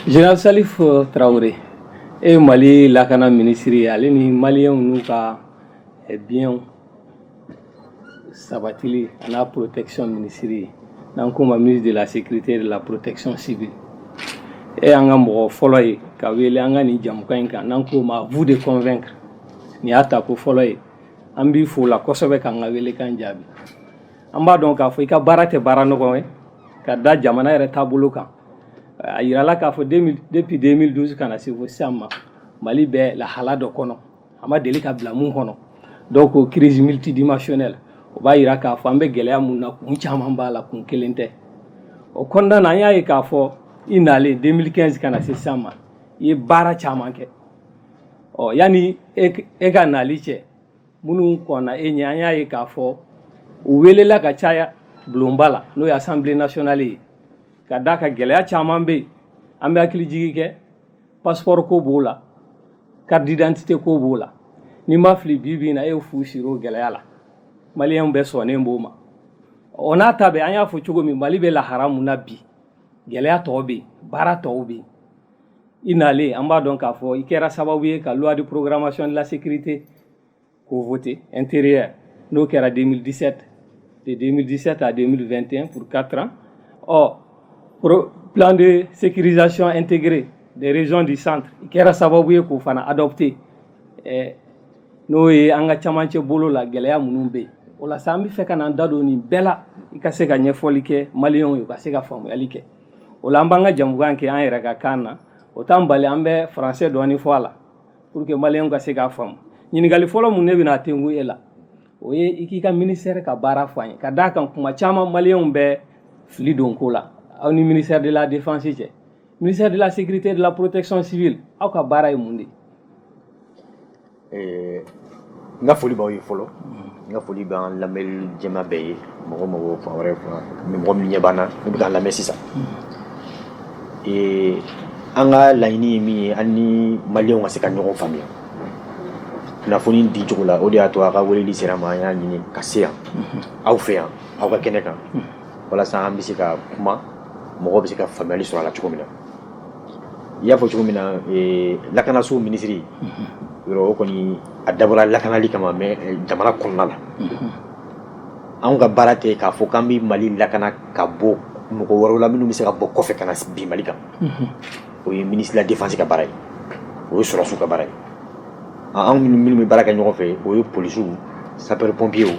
Général Salif euh, Traoré e Mali lakana minisiri ye ale ni maliyɛnw n'u ka eh, biyɛnw sabatili an'a protection minisiri ye n'an k'o ma ministre de la sécurité et de la protection civile e y'an ka mɔgɔ fɔlɔ ye ka wele an ka nin jamukan in kan n'an k'o ma à vous de convaincre nin y'a ta ko fɔlɔ ye an b'i fo la kosɛbɛ k'an ka welekan jaabi An b'a dɔn k'a fɔ i ka baara tɛ baara nɔgɔ ye ka da jamana yɛrɛ taabolo kan a jirala k'a fɔ depuis 2012 ka na se fo sisan ma Mali bɛ lahala dɔ kɔnɔ a ma deli ka bila mun kɔnɔ donc crise multidimensionnelle o b'a jira k'a fɔ an bɛ gɛlɛya mun na kun caman b'a la kun kelen tɛ o kɔnɔna na an y'a ye k'a fɔ i nalen 2015 ka na se sisan ma i ye baara caman kɛ ɔ yanni e ka nali cɛ minnu kɔnna e ɲɛ an y'a ye k'a fɔ u welela ka caya bulonba la n'o ye assemblée nationale ye ka d'a kan gɛlɛya caman bɛ yen an bɛ hakili jigi kɛ passeport ko b'o la carte d'identité ko b'o la ni n ma fili bi bi in na e ye fu siri o gɛlɛya la maliyɛnw bɛɛ sɔnnen b'o ma o n'a ta bɛɛ an y'a fɔ cogo min mali bɛ lahala mun na bi gɛlɛya tɔw bɛ yen baara tɔw bɛ yen i nalen an b'a dɔn k'a fɔ i kɛra sababu ye ka loi de programmation de la sécurité k'o voter intérieur n'o kɛra 2017 de 2017 à 2021 pour 4 ans ɔ pro plan de sécurisation intégrée des régions du centre i kɛra sababu ye k'o fana adopté eh, n'o ye an ka camancɛ bolo la gɛlɛya minnu bɛ yen o la sa an bɛ fɛ ka n'an da don nin bɛɛ la i ka se ka ɲɛfɔli kɛ maliyɛnw ye u ka se ka faamuyali kɛ o la an b'an ka jamukan kɛ an yɛrɛ ka kan na o t'an bali an bɛ français dɔɔni fɔ a la pour que maliyɛnw ka se k'a faamu ɲininkali fɔlɔ mun ne bɛna tengu e la o ye i k'i ka ministère ka baara fɔ an ye ka d'a kan kuma caman maliyɛnw bɛ fili don ko la aw ni ministère de la défense cɛ ministère de la sécurité de la protection civile aw ka baara ye mun de ye Ee n ka foli b'aw ye fɔlɔ n ka foli b'an lamɛnli jama bɛɛ ye mɔgɔ mɔgɔ fan wɛrɛ mɔgɔ minnu ɲɛ b'an na ni bɛ k'an lamɛn sisan ee an ka laɲini ye min ye an ni maliyɛnw ka se ka ɲɔgɔn faamuya kunnafoni di cogo la o de y'a to a ka weleli sera an ma an y'a ɲini ka se yan aw fɛ yan aw ka kɛnɛ kan walasa an bɛ se ka kuma mɔgɔ bɛ se ka faamuyali sɔrɔ a la cogo min na i y'a fɔ cogo min na ee, lakanasow minisiri yɔrɔ o kɔni a dabɔra lakanali kama mais eh, jamana kɔnɔna la anw ka baara tɛ k'a fɔ k'an bɛ mali lakana ka bɔ mɔgɔ wɛrɛw la minnu bɛ se ka bɔ kɔfɛ ka na bin mali kan o ye minisiri la défense ka baara ye o ye sɔrɔsiw ka baara ye A- anw minnu minnu bɛ baara kɛ ɲɔgɔn fɛ o ye polisiw sapeur pompiers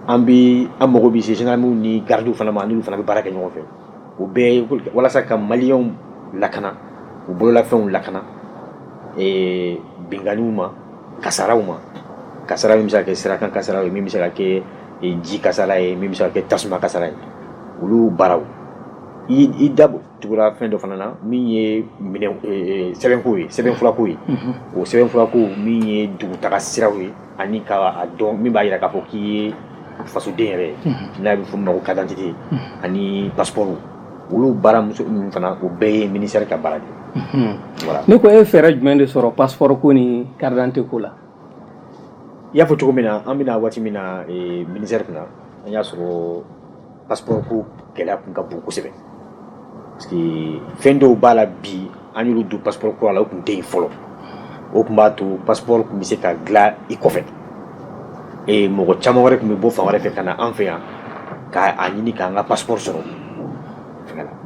an bɛ an mago bɛ se gendarmew ni gardiw fana ma n'olu fana bɛ baara kɛ ɲɔgɔn fɛ o bɛɛ walasa ka maliyɛnw lakana u bololafɛnw lakana binkanniw ma kasaraw ma kasara min bɛ se ka kɛ sirakan kasara ye min bɛ se ka kɛ ji kasara ye min bɛ se ka kɛ tasuma kasara ye olu baaraw i da tugura fɛn dɔ fana na min ye sɛbɛnko ye sɛbɛnfurako ye o sɛbɛnfurako min ye dugutaga siraw ye ani ka a dɔn min b'a jira k'a fɔ k'i ye fasoden yɛrɛ ye n'a bɛ fɔ min ma ko carte d'identité ani passeport olu baara ninnu fana o bɛɛ ye ministère ka baara de ye voilà ne ko e ye fɛɛrɛ jumɛn de sɔrɔ passeport ko ni carte d'identité ko la i y'a fɔ cogo min na an bɛ na waati min na ministère kunna an y'a sɔrɔ passeport ko gɛlɛya kun ka bon kosɛbɛ parce que fɛn dɔw b'a la bi an y'olu don passeport kura la o kun tɛ yen fɔlɔ o tun b'a to passeport tun bɛ se ka dilan i kɔfɛ ee mɔgɔ caman wɛrɛ tun bɛ bɔ fan wɛrɛ fɛ ka na an fɛ yan ka a ɲini k'an ka passeport sɔrɔ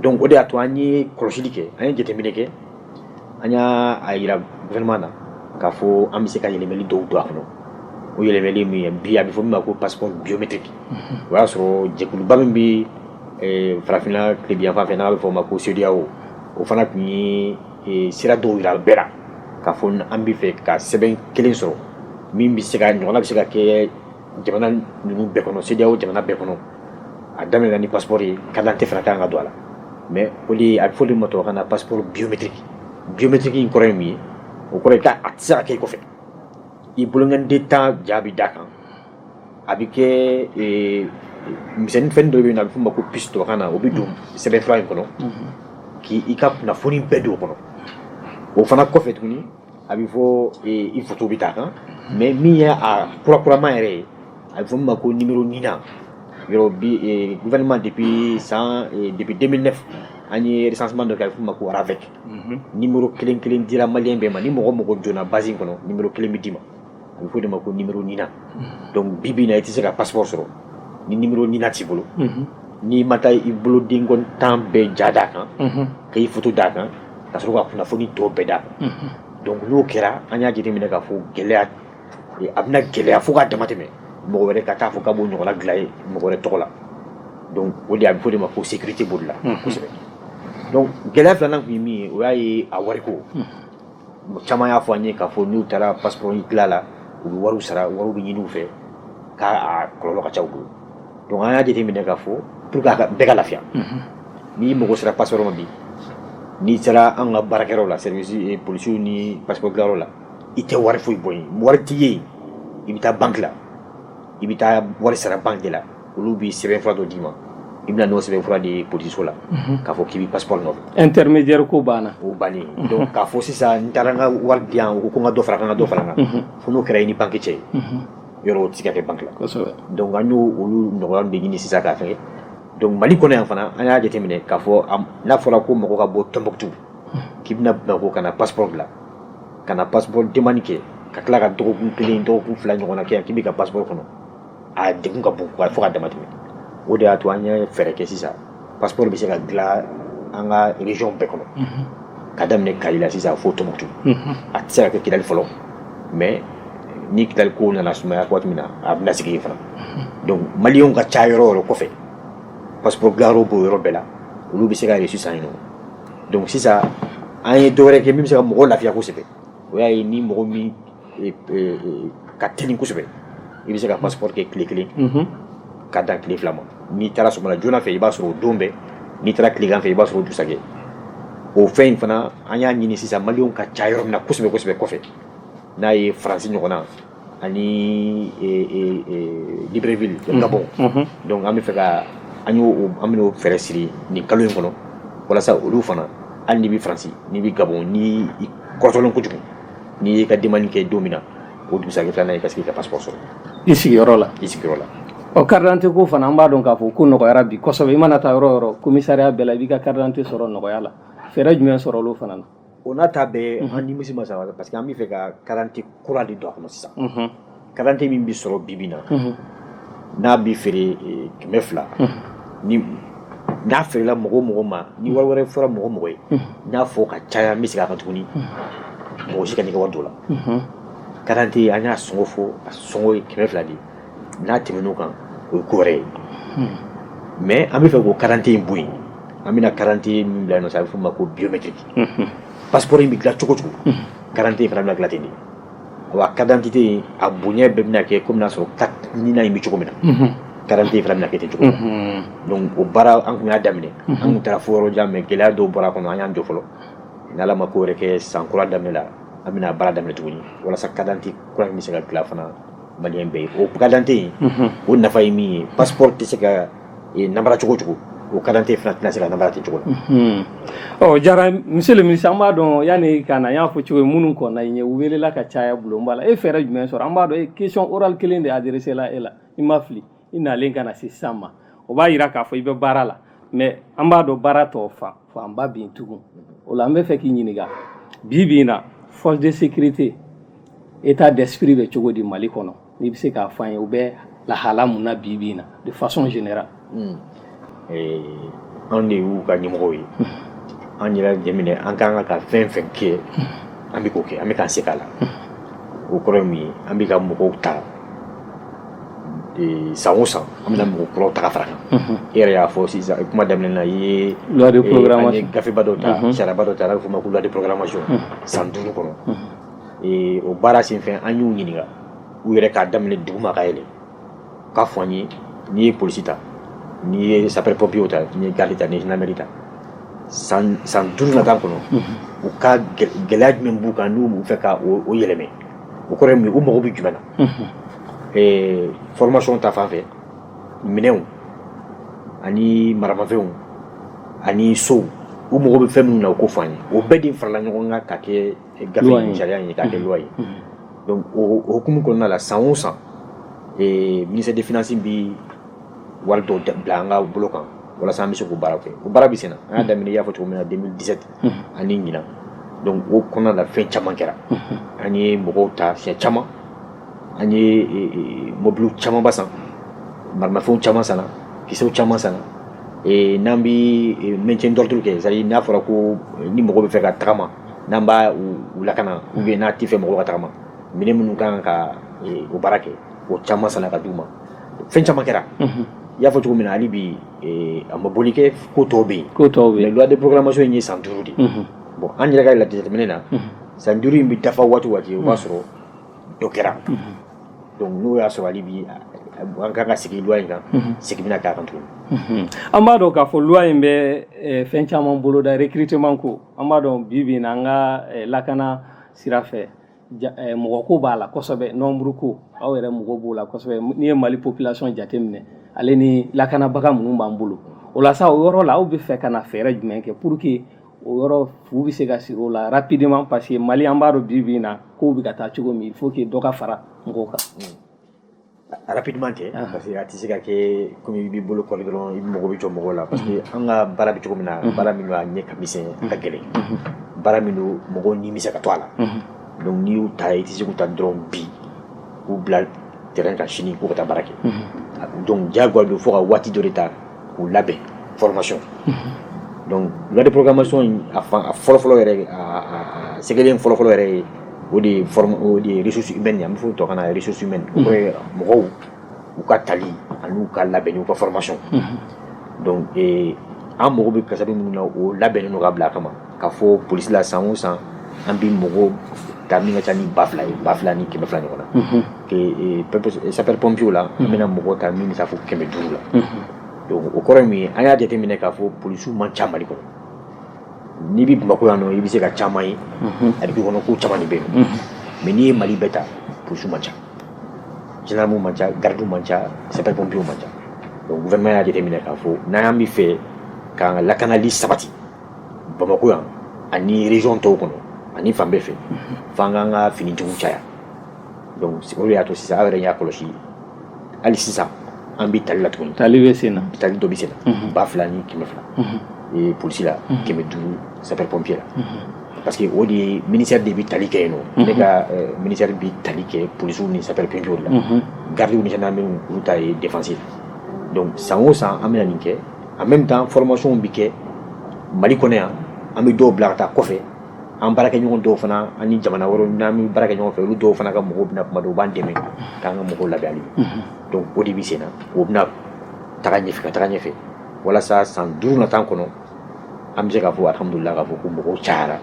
donc o de y'a to an ye kɔlɔsili kɛ an ye jateminɛ kɛ an y'a a yira gouvernement na k'a fɔ an bɛ se ka yɛlɛmɛli dɔw don a kɔnɔ o yɛlɛmɛli min ye bi a bɛ fɔ min ma ko passeport biométrique o y'a sɔrɔ jɛkuluba min bɛ eh, farafinna tilebinyanfan fɛ n'a bɛ fɔ o ma ko CEDEAO o fana tun ye eh, sira dɔw yira bɛɛ la k'a fɔ an bɛ fɛ ka sɛbɛn kelen sɔrɔ min bɛ se ka ɲɔgɔnna bɛ se ka kɛ jamana ninnu bɛɛ kɔnɔ CEDEAO jamana bɛɛ kɔnɔ a daminɛna ni passeport ye carte d'identité fana ka kan ka don a la mais o de a bɛ f'o de ma tubabukan na passeport biométrique biométrique in kɔrɔ ye mun ye o kɔrɔ ye k'a tɛ se ka kɛ i kɔfɛ i bolonkɔniden tan ja bɛ d'a kan a bɛ kɛ eh, misɛnnin fɛn dɔ bɛ yen n'a bɛ f'o ma ko puce tubabukan na o bɛ don sɛbɛnfura in kɔnɔ k'i i ka kunnafoni bɛɛ don o kɔnɔ o fana kɔfɛ tuguni a bɛ fɔ i fato bɛ taa kan mɛ min ye a kurakurama yɛrɛ ye a bɛ fɔ ma ko ni ɲin yɔrɔma de bɛ san de bɛ den ne an yesas dɔ kɛ ma ko arafɛ ni kelen kelen dira mali bɛɛ ma ni mɔgɔ mɔgɔ donna basi kɔnɔ kelen bɛ d'i ma a bɛ f'o de ma ko numéro NINA donc bi bi in na i tɛ se ka passeport sɔrɔ ni numéro NINA t'i bolo n'i ma taa i bolo den tan bɛɛ ja d'a kan ka i photo d'a kan ka sɔrɔ ka kunnafoni tɔ bɛɛ d'a kan donc n'o kɛra an y'a jateminɛ k'a fɔ gɛlɛya a bɛna gɛlɛya fo k'a damatɛmɛ mɔgɔ wɛrɛ ka taa fɔ k'a b'o ɲɔgɔnna dilan ye mɔgɔ wɛrɛ tɔgɔ la donc o de a bɛ f'o de ma ko sécurité b'o de la kosɛbɛ donc gɛlɛya filanan tun ye min ye o y'a ye a wariko caman y'a fɔ an ye k'a fɔ n'u taara passeport in dilan la u bɛ wariw sara wariw bɛ ɲini u fɛ k'a kɔlɔlɔ ka ca u bolo donc an y'a jateminɛ k'a fɔ pour que a ka bɛɛ ka lafiya n'i mago sera passeport ma bi n'i sera an ka baarakɛyɔrɔ la service eh, polisiw ni passeport dilanyɔrɔ la i tɛ wari foyi bɔ yen wari tɛ ye yen i bɛ taa banki la i bɛ taa wari sara banki de la olu bɛ sɛbɛn fura dɔ d'i ma i bɛna n'o sɛbɛn fura di poliso la k'a fɔ k'i bɛ passeport nɔfɛ intermédiaire ko banna o bannen don k'a fɔ sisan n taara n ka wari di yan ko ko n ka dɔ fara kan ka dɔ fara kan fo n'o kɛra i ni banki cɛ ye yɔrɔ o tɛ se ka kɛ banki la donc an y'o olu nɔgɔya de ɲini sisan ka fɛngɛ donc mali kɔnɔ yan fana an y'a jateminɛ k'a fɔ n'a fɔra ko mɔgɔ ka bɔ tombouctou k'i bɛna bamako ka na passeport dilan ka na passeport demande kɛ ka tila ka dɔgɔkun kelen dɔgɔkun fila ɲɔgɔn na kɛ yan k'i bɛ ka passeport kɔnɔ a degun ka bon fo ka dama tɛmɛ o de y'a to an ye fɛɛrɛ kɛ sisan passeport bɛ se ka dilan an ka région bɛɛ kɔnɔ ka daminɛ kayes la sisan fo tombouctou a tɛ se ka kɛ kidali fɔlɔ mais ni kidali ko nana sumaya waati min na a bɛna sigi yen fana donc maliyɛnw ka ca yɔrɔ o yɔrɔ kɔfɛ passeport dilanyɔrɔ b'o yɔrɔ bɛɛ la olu bɛ se ka reçu san yen nɔ donc sisan an ye dɔwɛrɛ kɛ min bɛ se ka mɔgɔw lafiya kosɛbɛ o y'a ye ni mɔgɔ min ka teli kosɛbɛ i bɛ se ka passeport kɛ tile kelen ka dan tile fila ma n'i taara sɔgɔmada joona fɛ i b'a sɔrɔ o don bɛɛ n'i taara tilegan fɛ i b'a sɔrɔ dugusajɛ o fɛn in fana an y'a ɲini sisan maliyɛnw ka ca yɔrɔ min na kosɛbɛ kosɛbɛ kɔfɛ n'a ye faransi ɲɔgɔn na ani libreville gabon donc an bɛ fɛ ka an an bɛn'o fɛɛrɛ siri nin kalo in kɔnɔ walasa olu fana hali n'i bɛ faransi n'i bɛ gabon n'i kɔrɔtɔlen kojugu n'i y'i ka demande kɛ don min na, o dugusajɛ filanan i ka se k'i ka passeport sɔrɔ i sigiyɔrɔ la, i sigiyɔrɔ la, ɔ carte d'identité ko fana an b'a dɔn k'a fɔ ko nɔgɔyara bi kosɛbɛ, i mana taa yɔrɔ o yɔrɔ commissariat bɛɛ la i b'i ka carte d'identité sɔrɔ nɔgɔya la, fɛɛrɛ jumɛn sɔrɔla o fana na? o n'a ta bɛɛ an nimisi ma sa parce que an bɛ fɛ ka carte d'identité kura de don a kɔnɔ sisan, unhun. carte d'identité min bɛ sɔrɔ bibi in na n'a bɛ feere eh, kɛmɛ fila n'a feerela mɔgɔ mɔgɔ ma ni wari wɛrɛ fɔra mɔgɔ mɔgɔ ye n y'a fɔ ka caya n bɛ segin a kan tuguni mɔgɔ si kan'i ka wari don a la carte d'identité an y'a sɔngɔ fɔ a sɔngɔ ye kɛmɛ fila de ye n'a tɛmɛn'o kan o ye ko wɛrɛ ye mais an bɛ fɛ k'o carte d'identité in bɔ yen an bɛna carte d'identité min bila yen nɔ sisan a bɛ f'o ma ko biométrique passeport in bɛ dilan cogo o cogo carte d'identité in fana bɛna dilan ten de Wa carte d'identité a bonya bɛɛ bɛna kɛ kɔmi n'a sɔrɔ carte nina in bɛ cogo min na carte d'identité fana bɛna kɛ ten cogo min na donc o baara an tun y'a daminɛ an taara fo yɔrɔ jan mais gɛlɛya dɔw bɔra a kɔnɔ an y'an jɔ fɔlɔ n'ala ma ko wɛrɛ kɛ san kura daminɛ la an bɛna baara daminɛ tuguni walasa carte d'identité kura in bɛ se ka dilan fana Maliyɛn bɛɛ ye o carte d'identité in o nafa ye min ye passeport tɛ se ka namara cogo cogo o carte d'identité fana tɛna se ka namara ten cogo la ɔ jara monsieur le ministre an b'a dɔn yanni i ka na n y'a fɔ cogo min minnu kɔnna i ɲɛ u welela ka caya bulonba la e fɛɛrɛ jumɛn sɔrɔ an b'a dɔn e question orale kelen de adresséla e la i ma fili i nalen ka na se sisan ma o b'a jira k'a fɔ i bɛ baara la mais an b'a dɔn baara tɔ faa fanba bin tugun o la an bɛ fɛ k'i ɲininka bi bi in na force de sécurité état d'esprit bɛ cogo di mali kɔnɔ n'i bɛ se k'a fɔ an ye u bɛ lahala mun na bi bi in na de façon générale hmm. eh, anw de y'u ka ɲɛmɔgɔw ye an yɛrɛ jateminɛ an ka kan ka fɛn fɛn kɛ an bɛ k'o kɛ an bɛ k'an se k'a la o kɔrɔ ye mun ye an bɛ ka mɔgɔw ta san o san an bɛna mɔgɔ kuraw ta ka fara a kan e yɛrɛ y'a fɔ sisan kuma daminɛ na an ye gafeba dɔ ta sariyaba dɔ ta n'a bɛ f'o ma ko loi de programmation san duuru kɔnɔ o baara senfɛ an y'u ɲininka u yɛrɛ k'a daminɛ duguma ka yɛlɛn u k'a fɔ an ye n'i ye polisi ta n'i ye sapeur pompier ta n'i ye garde ta ni gendarmerie ta san duuru nata kɔnɔ u ka gɛlɛya jumɛn b'u kan n'u b'a fɛ k'o yɛlɛmɛ o kɔrɔ u mago bɛ jumɛn na ɛɛ formation ta fan fɛ minɛnw ani maramafɛnw ani sow u mago bɛ fɛn minnu na u k'o fɔ an ye o bɛɛ de farala ɲɔgɔn kan k'a kɛ gafe in sariya ye k'a kɛ loi ye donc o hukumu kɔnɔna la san o san ee ministère des finances bɛ wari dɔw bila an ka bolo kan walasa an bɛ se k'o baara kɛ o baara bɛ senna an y'a daminɛ i y'a fɔ cogo min na 2017 ani ɲinan donc o kɔnɔna la fɛn caman kɛra an ye mɔgɔw ta siɲɛ caman an ye mɔbiliw camanba san marimafɛnw caman sanna kisɛw caman sanna n'an bɛ maintien d'ordre kɛ c'est à dire n'a fɔra ko ni mɔgɔ bɛ fɛ ka tagama n'an b'u lakana ou bien n'an t'a fɛ mɔgɔw ka tagama minɛn minnu ka kan ka o baara kɛ o caman sanna ka di u ma fɛn caman kɛra y'a fɔ cogo min na hali bi a ma boli kɛ ko tɔw bɛ yen mais loi de programmation in ye san duuru de ye bon an yɛrɛ ka jateminɛ na san duuru in bɛ dafa waati o waati o b'a sɔrɔ dɔ kɛra donc n'o y'a sɔrɔ hali bi an kan ka sigi loi in kan sigi bɛna k'a kan tuguni an b'a dɔn k'a fɔ loi in bɛ fɛn caman boloda recrutement ko an b'a dɔn bi bi in na an ka lakana sira fɛ mɔgɔ ko b'a la kosɛbɛ nombre ko aw yɛrɛ mago b'o la kosɛbɛ n'i ye mali population jateminɛ ale ni lakanabaga minnu b'an bolo o la sa o yɔrɔ la aw bɛ fɛ ka na fɛɛrɛ jumɛn kɛ pour que o yɔrɔ fu bɛ se ka siri o la rapidement parce que mali an b'a dɔn bi bi in na kow bɛ ka taa cogo min il faut que dɔ ka fara mɔgɔw kan rapidement tɛ ah. parce que a tɛ se ka kɛ comme i b'i bolo kɔri dɔrɔn i mago bɛ jɔ mɔgɔw la parce que an ka baara bɛ cogo min na baara min don a ɲɛ ka misɛn a ka gɛlɛn baara min don mɔgɔw ni bɛ se ka to a la donc n'i y'u ta i tɛ se k'u ta dɔrɔn bi k'u bila terrain kan sini k'u ka taa baara kɛ donc diyagoya don fo ka waati dɔ de ta k'u labɛn fɔlɔmasɔn don lamomasɔn in a fɔlɔfɔlɔ sɛgɛgɛlen fɔlɔfɔlɔ yɛrɛ ye o de ye desusu bɛ nin an tɔgɔ kana yɛrɛsusu mɛn mɔgɔw u ka tali ani'u ka labɛn u ka fɔlɔmasɔn an mago bɛ kasa minnu na o labɛn n' ka bila a kama k'a fɔ polisi la san o san an bɛ mɔgɔw ta min ka ca ni ba fila ye ba fila ni kɛmɛ fila ɲɔgɔn na sapeur pompier la an bɛna mɔgɔw ta min bɛ taa fo kɛmɛ duuru la donc o kɔrɔ ye min ye an y'a jateminɛ k'a fɔ polisiw man ca mali kɔnɔ n'i bɛ bamakɔ yan nɔ i bɛ se ka caman ye a b'i kɔnɔ ko caman de bɛ yen mais n'i ye mali bɛɛ ta polisiw man ca gendarmew man ca garidiw man ca sapeurs pompiers man ca gouvernement y'a jateminɛ k'a fɔ n'an y'an b'a fɛ k'an ka lakanali sabati bamakɔ yan ani région tɔw kɔnɔ ani fan bɛɛ fɛ f'an k'an ka finitigiw caya donc o de y'a to sisan aw yɛrɛ y'a kɔlɔsi hali sisan an bɛ tali la tuguni tali bɛ sen na tali dɔ bɛ sen na ba fila ni kɛmɛ fila ee polisi la kɛmɛ duuru sapeur pompier la parce que o de ye ministère de bɛ tali kɛ yen nɔ ne ka ministère bɛ tali kɛ polisiw ni sapeur pompier la gardiw ni gendarmew olu ta ye défense ye donc san o san an bɛna nin kɛ en même temps formation bɛ kɛ mali kɔnɔ yan an bɛ dɔw bila ka taa kɔfɛ an baarakɛɲɔgɔn dɔw fana ani jamana wɛrɛw n'an bɛ baara kɛ ɲɔgɔn fɛ olu dɔw fana ka mɔgɔw bɛ na kuma dɔw u b'an dɛmɛ k'an ka mɔgɔw labɛn hali donc o de bɛ sen na o bɛna taga ɲɛfɛ ka taga ɲɛfɛ walasa san duuru nata kɔnɔ an bɛ se k'a fɔ alhamdulillah k'a fɔ ko mɔgɔw cayara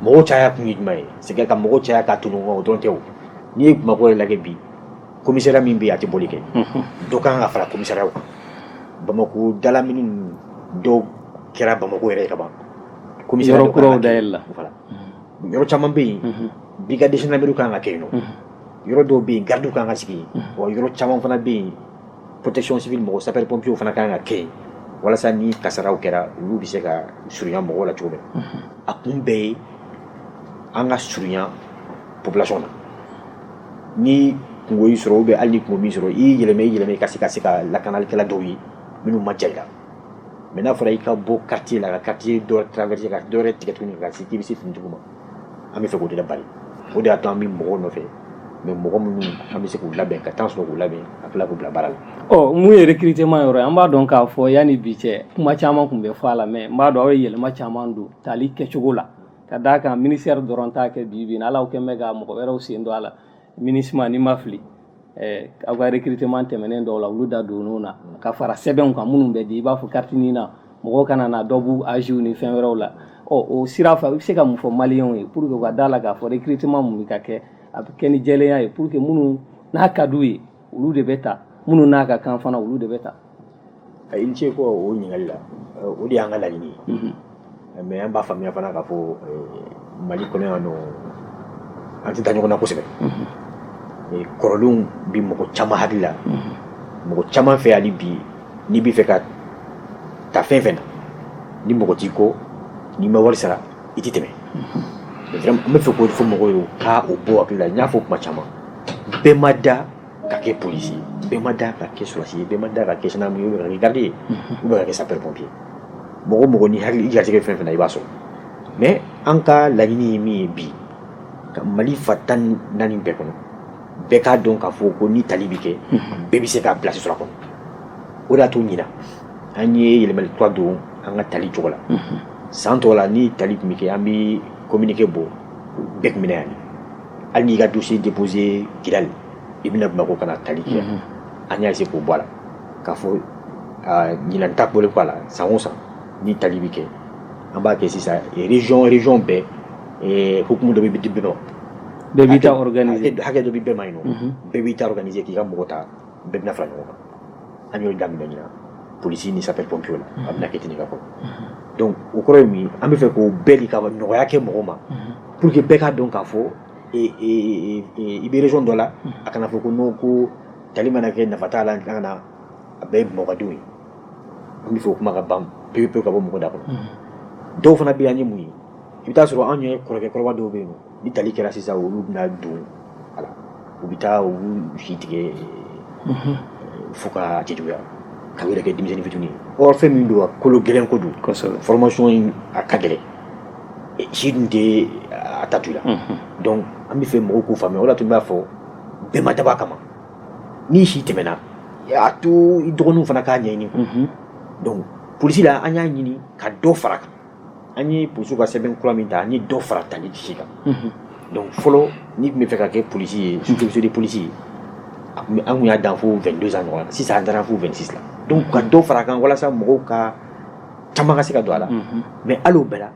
mɔgɔw caya kun ye jumɛn ye c'est que ka mɔgɔw caya ka ton ɲɔgɔn o dɔrɔn tɛ n'i ye bamakɔ yɛrɛ lajɛ bi commissariat min bɛ yen a tɛ bɔli kɛ dɔ ka kan ka fara commissariat kan bamakɔ dalamini dɔw kɛra bamakɔ yɛrɛ ka ban yɔrɔ kuraw dayɛlɛla yɔrɔ caman bɛ yen brigade de gendarmerie kan ka kɛ yen nɔ yɔrɔ dɔw bɛ yen garidiw kan ka sigi yen wa yɔrɔ caman fana bɛ yen protection civile mɔgɔ sapeurs pompiers fana kan ka kɛ yen walasa ni kasaraw kɛra olu bɛ se ka surunya mɔgɔw la cogo min a kun bɛɛ ye an ka surunya population na ni kungo y'i sɔrɔ ou bien hali ni kungo m'i sɔrɔ i yɛlɛma i yɛlɛma i ka se ka se ka lakanalikɛla dɔw ye minnu man jan i la mais n'a fɔra i ka bɔ quartier la ka quartier dɔ traverser ka dɔ wɛrɛ tigɛ tuguni ka se k'i bɛ se finitigiw ma an b'a fɛ k'o de labari o de y'a to an bɛ mɔgɔw nɔfɛ mais mɔgɔ minnu an bɛ se k'u labɛn ka temps sɔrɔ k'u labɛn ka tila k'u bila baara la ɔ mun ye recrutement yɔrɔ ye an b'a dɔn k'a fɔ yanni bi cɛ kuma caman tun bɛ fɔ a la mais n b'a dɔn aw ye yɛlɛma caman don tali kɛcogo la ka d'a kan ministère dɔrɔn t'a kɛ bi bi in na hali aw kɛn bɛ ka mɔgɔ wɛrɛw sen don a la MINUSMA ni n ma fili eh, aw ka recrutement tɛmɛnen dɔw la olu da donn'o na ka fara sɛbɛnw kan minnu bɛ di i b'a fɔ carte NINA mɔgɔw kana na dɔ b'u âge ni fɛn wɛrɛw la ɔ o sira fɛ i bɛ se ka mun fɔ maliyɛnw ye pour que u ka d'a la k'a fɔ recrutement min bɛ ka kɛ a bɛ kɛ ni jɛlenya ye pour que minnu n'a ka d'u ye olu de bɛ ta minnu n'a ka kan fana olu de bɛ ta i ni ce ko o ɲininkali la o de y'an ka laɲini ye mhm. mais an b'a faamuya fana k'a fɔ mali kɔnɔ yan nɔ an tɛ da ɲɔgɔn na kosɛbɛ mhm. kɔrɔlenw bɛ mɔgɔ caman hakili la mhm. mɔgɔ caman fɛ hali bi n'i bɛ fɛ ka ta fɛn fɛn na ni mɔgɔ t'i kɔ n'i ma wari sara i tɛ tɛmɛ n bɛ fɛ k'o de fɔ mɔgɔw ye u ka o bɔ u hakili la n y'a fɔ kuma caman bɛɛ ma da ka kɛ polisi ye bɛɛ ma da ka kɛ sɔrɔdasi ye bɛɛ ma da ka kɛ gendarme ye ou bien ka kɛ garde ye ou bien ka kɛ sapeur pompier mɔgɔ o mɔgɔ ni Ala y'i garijɛgɛ fɛn fɛn na i b'a sɔrɔ mais an ka laɲini ye min ye bi ka mali fan tan ni naani bɛɛ kɔnɔ bɛɛ k'a dɔn k'a fɔ ko ni tali bɛ kɛ bɛɛ bɛ se ka place sɔrɔ a kɔnɔ o de y'a to ɲina an ye yɛlɛmali kura don an ka tali cogo la San tɔw la ni tali tun bɛ kɛ an bɛ kominike bɔ bɛɛ tun bɛ na yan hali n'i y'i ka dossier déposé Kidal i bɛ na Bamakɔ ka na tali kɛ an y'a essayer k'o bɔ a la k'a fɔ ɲinan ta bɔlen kɔ a la san o san ni tali bɛ kɛ an b'a kɛ sisan région bɛɛ hukumu dɔ bɛ di bɛɛ ma hakɛ dɔ bɛ bɛɛ ma yen nɔ bɛɛ b'i ta organiser k'i ka mɔgɔ ta bɛɛ bɛna fara ɲɔgɔn kan an y'o daminɛ ɲina polisi ni sapeur pompier la a bɛna kɛ ten ka kɔrɔ donc o kɔrɔ ye min an bɛ fɛ k'o bɛɛ de ka nɔgɔya kɛ mɔgɔw ma pour que bɛɛ k'a dɔn k'a fɔ i bɛ région dɔ la a kana fɔ ko non ko tali mana kɛ nafa t'a la an kan a bɛɛ ye bamakɔdenw ye an bɛ fɛ o kuma ka ban pewu pewu ka bɔ mɔgɔ da kɔnɔ dɔw fana bɛ yan an ye mun ye i bɛ taa sɔrɔ anw ye kɔrɔkɛ kɔrɔba dɔw bɛ yen nɔ ni tali kɛra sisan olu bɛna don a la u bɛ taa u si tigɛ mhm. fo ka cɛjuguya k'a yɛrɛ kɛ denmisɛnnin fitini ye or fɛn min don a kolo gɛlɛn ko don formation in a ka gɛlɛn e, si dun tɛ a ta to i la mhm. donc an bɛ fɛ mɔgɔw k'o faamuya o de la tun b'a fɔ bɛɛ ma dabɔ a kama n'i si tɛmɛna a to i dɔgɔninw fana k'a ɲɛɲini mhm. donc polisi la an y'a ɲini ka dɔ fara a kan an ye polisiw ka sɛbɛn kura min ta an ye dɔ fara tali si kan donc fɔlɔ n'i tun bɛ fɛ ka kɛ polisi ye sous-officier de police ye an tun y'a dan fo vingt-deux ans ɲɔgɔn na sisan an taara fo vingt-six la donc ka dɔ fara a kan walasa mɔgɔw ka caman ka se ka don a la mais hali o bɛɛ la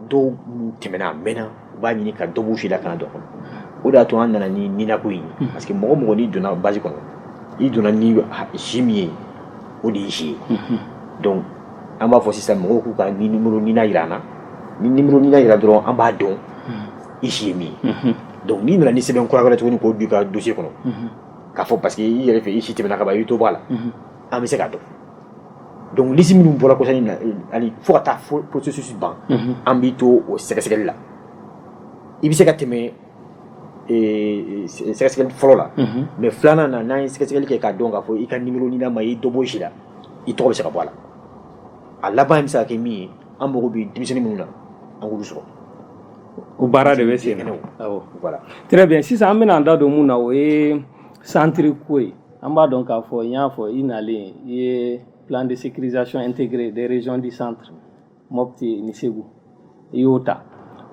dɔw tɛmɛna a mɛnna u b'a ɲini ka dɔ b'u si la ka na don a kɔnɔ o de y'a to an nana ni NINA ko in ye parce que mɔgɔ o mɔgɔ n'i donna base kɔnɔ i donna ni si min ye o de y'i si ye donc an b'a fɔ sisan mɔgɔw k'u ka ni numéro NINA jira an na ni numéro NINA jira dɔrɔn an b'a dɔn i si ye min ye donc n'i nana ni sɛbɛn kura wɛrɛ tuguni k'o don i ka dossier kɔnɔ k'a fɔ parce que i yɛrɛ fɛ i si tɛmɛna ka ban i bɛ dɔ bɔ a la an bɛ se k'a dɔn donc liste minnu bɔra kɔsa in na ani fo ka taa processus ban an b'i to o sɛgɛsɛgɛli la i bɛ se ka tɛmɛ sɛgɛsɛgɛli fɔlɔ la mais filanan na n'an ye sɛgɛsɛgɛli kɛ k'a dɔn k'a fɔ i ka numéro NINA ma i dɔ bɔ i si la i tɔgɔ bɛ se ka bɔ a la a laban in bɛ se ka kɛ min ye an mago bɛ denmisɛnnin minnu na an k'olu sɔrɔ o baara de bɛ sen na très bien sisan an bɛna an da don min na o ye centre ko ye An b'a dɔn k'a fɔ n y'a fɔ i nalen i ye plan de sécurisation intégrée des régions du centre Mopti ni Segu i y'o ta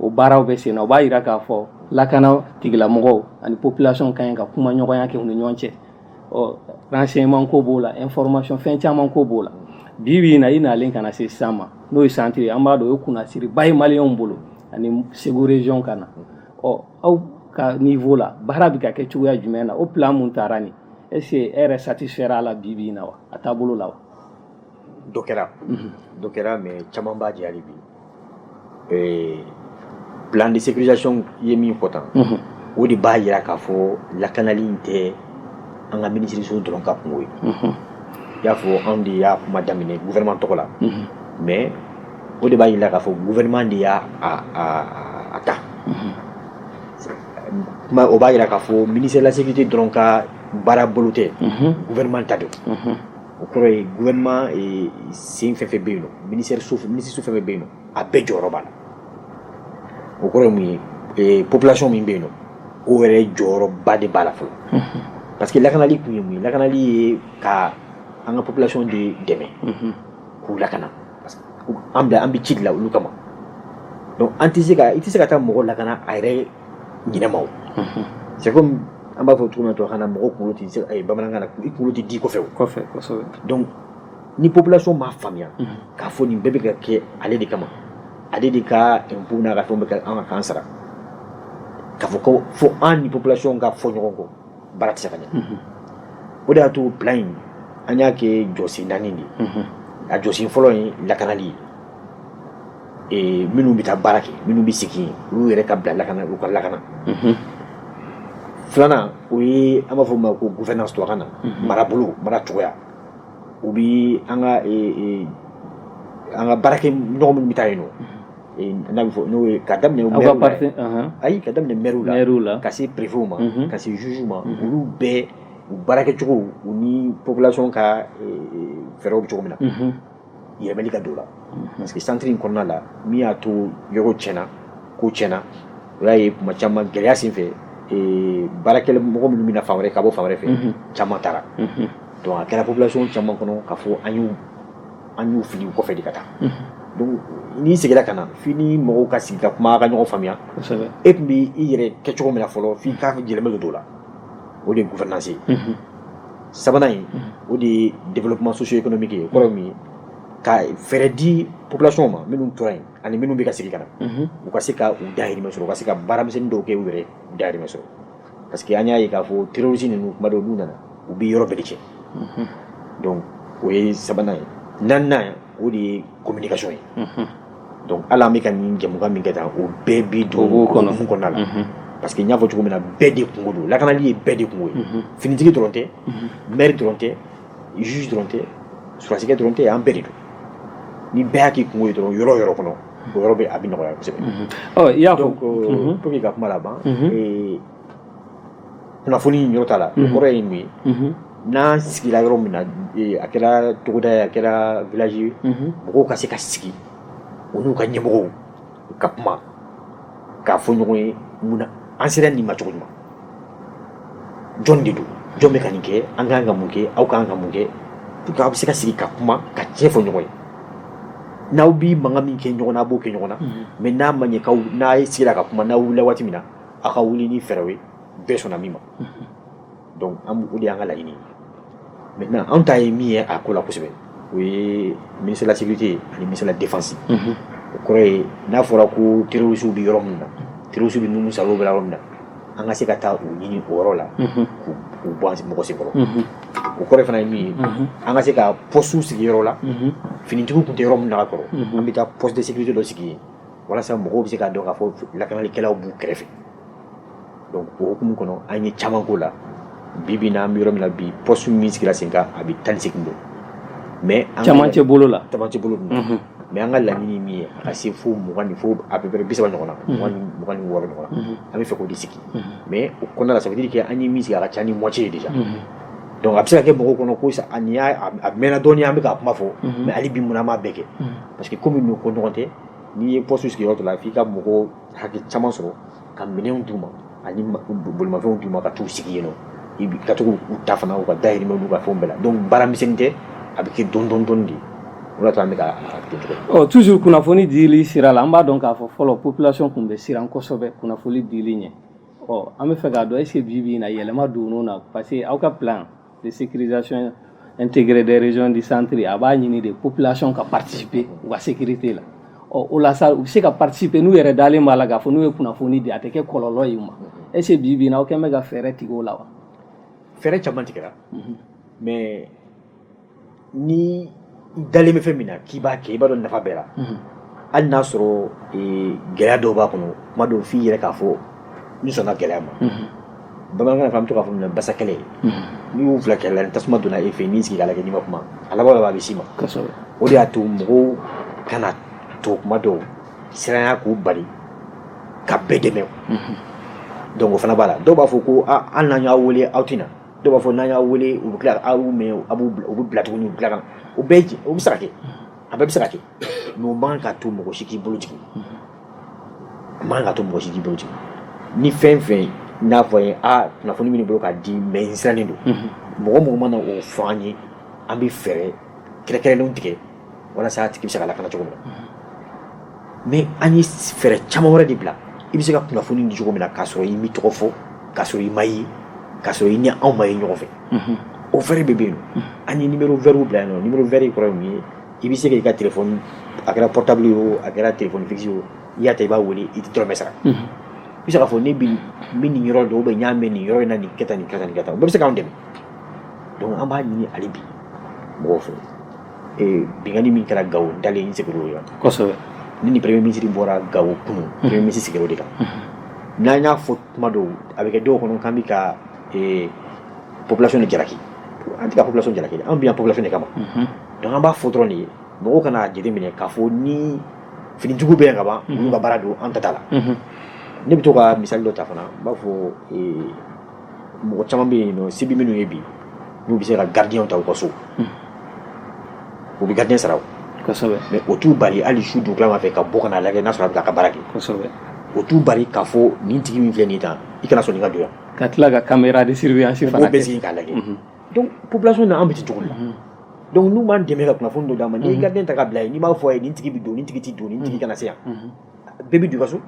o baaraw bɛ sen na o b'a jira k'a fɔ lakana tigilamɔgɔw ani population ka ɲi ka kuma ɲɔgɔnya kɛ u ni ɲɔgɔn cɛ ɔ renseignement ko b'o la information fɛn caman ko b'o la bi bi in na i nalen ka na se sisan ma n'o ye centre ye an b'a dɔn o ye kunnasiriba ye maliyɛnw bolo ani Segu région ka na ɔ aw ka niveau la baara bɛ ka kɛ cogoya jumɛn na o plan min tara nin est-ce que e yɛrɛ satisfaira a la bi bi na wa a taabolo la wa dɔ kɛra dɔ kɛra mais caman b'a jɛ hali bi plan de sécurisation ye min fɔ tan o de b'a jira k'a fɔ lakanali in tɛ an ka minisiriso dɔrɔn ka kunko ye i y'a fɔ anw de y'a kuma daminɛ gouvernement tɔgɔ la mais o de b'a jira k'a fɔ gouvernement de y'a a ta, unhun, o b'a jira k'a fɔ ministère de la sécurité dɔrɔn ka baara bolo tɛ, unhun, gouvernement ta don, unhun, o kɔrɔ ye gouvernement sen fɛn o fɛn bɛ yen, ministère so minisiriso fɛn o fɛn bɛ yen nɔ a bɛɛ jɔyɔrɔ b'a la, o kɔrɔ ye mun ye ee population min bɛ yen nɔ o yɛrɛ jɔyɔrɔba de b'a la fɔlɔ, unhun, parce que lakanali kun ye mun ye lakanali ye ka an ka population de dɛmɛ, unhun, k'u lakana parce que an bila an bɛ ci de la olu kama donc an tɛ se ka i tɛ se ka taa mɔgɔ lakana a yɛrɛ ɲinɛma o c'est comme an b'a fɔ cogo min na tubabukan na mɔgɔ kunkolo tɛ se eh, bamanankan na i kunkolo tɛ di i kɔfɛ o kosɛbɛ donc ni population m'a faamuya k'a fɔ nin bɛɛ bɛ ka kɛ ale de kama ale de ka impôt n'a ka fɛnw bɛ kɛ an ka k'an sara k'a fɔ ko fo an ni population ka fɔ ɲɔgɔn kɔ baara tɛ se ka ɲɛ o de y'a to plan in an y'a kɛ jɔsen naani de ye a jɔsen fɔlɔ ye lakanali ye minnu bɛ taa baara kɛ minnu bɛ segin olu yɛrɛ ka bila lakana u ka lakana filanan o ye an b'a fɔ o ma ko gouvernance tubabukan na marabolo mara cogoya u bɛ an ka an ka baarakɛ ɲɔgɔn minnu bɛ taa yen nɔ N'a bɛ fɔ n'o ye ka daminɛ ayi ka daminɛ maire la ka se préfet ma ka se juge ma olu bɛɛ u baarakɛcogo u ni population ka fɛɛrɛw bɛ cogo min na yɛlɛmɛli ka don o la parce que centre in kɔnɔna la min y'a to yɔrɔ tiɲɛna ko tiɲɛna o y'a ye kuma caman gɛlɛya sen fɛ baarakɛ mɔgɔ minnu bɛna fan wɛrɛ ka bɔ fan wɛrɛ fɛ caman taara donc a kɛra population caman kɔnɔ k'a fɔ an y'u an y'u fili u kɔfɛ de ka taa donc n'i seginna ka na f'i ni mɔgɔw ka sigi ka kuma ka ɲɔgɔn faamuya e tun b' i yɛrɛ kɛ cogo min na fɔlɔ f'i ka yɛlɛmɛ don o la o de ye gouvernance ye sabanan in o de ye développement socio-économique ye kɔrɔ min ye ka fɛɛrɛ di population ma minnu tora yen ani minnu bɛ ka segin ka na u ka se ka u dahirimɛ sɔrɔ u ka se ka baaramisɛnnin dɔw kɛ u yɛrɛ dahirimɛ sɔrɔ parce que an y'a ye k'a fɔ terroriste ninnu kuma dɔw n'u nana u bɛ yɔrɔ bɛɛ de cɛ mhm. donc o ye sabanan ye naaninan o de ye communication ye mhm. donc hali an bɛ ka nin jɛmukan min kɛ tan o bɛɛ bi don o hukumu kɔnɔna la mhm. parce que n y'a fɔ cogo min na bɛɛ de kungo don lakanali ye bɛɛ de kungo ye finitigi dɔrɔn tɛ maire dɔrɔn tɛ juge dɔrɔn tɛ surasikɛ dɔrɔn tɛ an bɛɛ de don ni bɛɛ y'a k'i kungo ye dɔrɔn yɔrɔ o yɔrɔ kɔnɔ o yɔrɔ bɛ a bɛ nɔgɔya kosɛbɛ i y'a fɔ donc pour que ka kuma laban kunnafoni yɔrɔ t'a la o kɔrɔ ye mun ye n'an sigira yɔrɔ min na a kɛra togoda ye a kɛra village ye mɔgɔw ka se ka sigi u n'u ka ɲɛmɔgɔw ka kuma k'a fɔ ɲɔgɔn ye mun na an sera nin ma cogo jumɛn jɔn de don jɔn bɛ ka nin kɛ an ka kan ka mun kɛ aw ka kan ka mun kɛ pour que aw bɛ se ka sigi ka kuma ka tiɲɛ fɔ ɲɔgɔn ye n'aw bi mankan min kɛ ɲɔgɔn na a b'o kɛ ɲɔgɔn na mais n'a ma ɲɛ k'aw n'a ye sigira ka kuma n'aw wulila waati min na aw ka wuli ni fɛɛrɛw ye bɛɛ sɔnna min ma donc o de y'an ka laɲini ye maintenant anw ta ye min ye a ko la kosɛbɛ o ye ministre de la sécurité ani ministre de la défense o kɔrɔ ye n'a fɔra ko terroristes bɛ yɔrɔ min na terroristes bɛ numu salo bɛ yɔrɔ min na an ka se ka taa u ɲini o yɔrɔ la k'u bɔ an mɔgɔ senkɔrɔ o kɔrɔ fana ye min ye an ka se ka postes sigi yɔrɔ la finitigiw tun tɛ yɔrɔ min na ka kɔrɔ an bɛ taa poste de sécurité dɔ sigi yen walasa mɔgɔw bɛ se k'a dɔn k'a fɔ lakanalikɛlaw b'u kɛrɛfɛ donc o hukumu kɔnɔ an ye caman k'o la bi bi na an bɛ yɔrɔ min na bi poste min sigira sen kan a bɛ tan ni segin don mais cɛmancɛ bolo la cɛmancɛ bolo dun mhm. mais an ka laɲini min ye a ka se fo mugan ni fo à peu près bi saba ɲɔgɔn na mhm. mugan ni mugan ni wɔɔrɔ ɲɔgɔn na mhm. an bɛ fɛ k'o de sigi mais o kɔnɔna la ça veut dire que an ye min sigi a ka ca ni moitié ye déjà donc a bɛ se ka kɛ mɔgɔw kɔnɔ ko a nin y'a a mɛnna dɔɔni an bɛ k'a kuma fɔ mais hali bi mun na an m'a bɛɛ kɛ parce que komi nin ko ɲɔgɔn tɛ n'i ye poste sigi yɔrɔ dɔ la f'i ka mɔgɔ hakɛ caman sɔrɔ ka minɛnw d'u ma ani bolimafɛnw d'u ma ka t'u sigi yen nɔ ka to k'u ta fana u ka dahirimɛ n'u ka fɛnw bɛɛ la donc baara misɛnnin tɛ a bɛ kɛ dɔɔni dɔɔni dɔɔni de o de y'a to an bɛ ka ɔ toujours kunnafoni dili sira la an b'a dɔn k'a fɔ fɔlɔ population tun bɛ siran kosɛbɛ kunnafoni dili ɲɛ ɔ an bɛ fɛ k'a dɔn est ce que bi bi in na yɛlɛma donn'o na parce que aw ka plan de sécurisation intégrée des régions du centre a b'a ɲini de population ka participer u ka sécurité la ɔ o la sa u bɛ se ka participer n'u yɛrɛ dalen b'a la k'a fɔ n'u ye kunnafoni di a tɛ kɛ kɔlɔlɔ ye u ma est ce que bi bi in na aw kɛn bɛ ka fɛɛrɛ tigɛ o la wa fɛɛrɛ caman tigɛra mais ni i dalen bɛ fɛn min na k'i b'a kɛ i b'a dɔn nafa b'a la hali n'a sɔrɔ gɛlɛya dɔw b'a kɔnɔ kuma dɔw f'i yɛrɛ k'a fɔ n sɔnna gɛlɛya ma bamanankan na an bɛ to k'a fɔ minɛ basa kɛlɛ n'i y'u fila kɛlɛ la tasuma donna e fɛ n'i sigi k'a lajɛ n'i ma kuma a laban laban a bɛ s'i ma o de y'a to mɔgɔw kana to kuma dɔw siranya k'u bali ka bɛɛ dɛmɛ donc o fana b'a la dɔw b'a fɔ ko an n'an y'aw wele aw tɛna na dɔw b'a fɔ n'an y'aw wele u bɛ tila aw mɛn a b'u u bɛ bila tuguni u bɛ tila ka na o bɛɛ o bɛ se ka kɛ a bɛɛ bɛ se ka kɛ mais o man ka to mɔgɔ si k'i bolo jigin a man ka to mɔgɔ si k'i bolo jigin ni fɛn fɛn n'a fɔ ye a kunnafoni bɛ n bolo k'a di mais n sirannen don mɔgɔ mɔgɔ mana o fɔ an ye an bɛ fɛɛrɛ kɛrɛkɛrɛnlenw tigɛ walasa a tigi bɛ se ka lakana cogo min na mais an ye fɛɛrɛ caman wɛrɛ de bila i bɛ se ka kunnafoni di cogo min na k'a sɔrɔ i m'i tɔgɔ fɔ k'a sɔrɔ i ma ye k'a sɔrɔ i ni anw ma ye ɲɔgɔn fɛ o fɛɛrɛ bɛɛ bɛ yen an ye numéro vert bila yen nɔ numéro vert kɔrɔ ye mun ye i bɛ se k'i ka telefɔni a kɛra portable ye o a kɛra telefɔni fixe ye o i y'a ta i b'a wele i tɛ dɔrɔmɛ sara i bɛ se k'a fɔ ne bɛ n bɛ nin yɔrɔ dɔn ou bien n y'a mɛn nin yɔrɔ in na nin kɛ tan nin kɛ tan nin kɛ tan o bɛɛ bɛ se k'anw dɛmɛ donc an b'a ɲini hali bi mɔgɔw fɛ binkanli min kɛra gao n dalen segu yɔrɔ kosɛbɛ ni ni premier ministre bɔra gao kunun premier ministre sigira o de kan n'an y'a fɔ tuma dɔw a bɛ kɛ dɔw kɔnɔ k'an bɛ ka population de jalaki an tɛ ka population jalaki an bɛ yan population de kama donc an b'a fɔ dɔrɔn de ye mɔgɔw kan'a jateminɛ k'a fɔ ni finitigiw bɛ yan ka ban olu ka baara don an ta t'a la ne bɛ to ka misali dɔ ta fana n b'a fɔ mɔgɔ caman bɛ yen nɔ se bɛ minnu ye bi n'u bɛ se ka gardien ta u ka so u bɛ gardien sara o mais o t'u bali hali su dugutilama fɛ ka bɔ ka n'a lajɛ n'a sɔrɔ a bɛ k'a ka baara kɛ kosɛbɛ o t'u bali k'a fɔ nin tigi min filɛ nin ye tan i kana sɔn nin ka don yan ka tila ka caméra de surveillance fana bɛɛ sigi k'a lajɛ donc population na an bɛ ten cogo de la donc n'u m'an dɛmɛ ka kunnafoni dɔ d'an ma n'i ye gardien ta k'a bila yen n'i b'a fɔ a ye nin tigi bɛ don nin tigi tɛ don nin tigi kana se yan bɛɛ bɛ don i ka so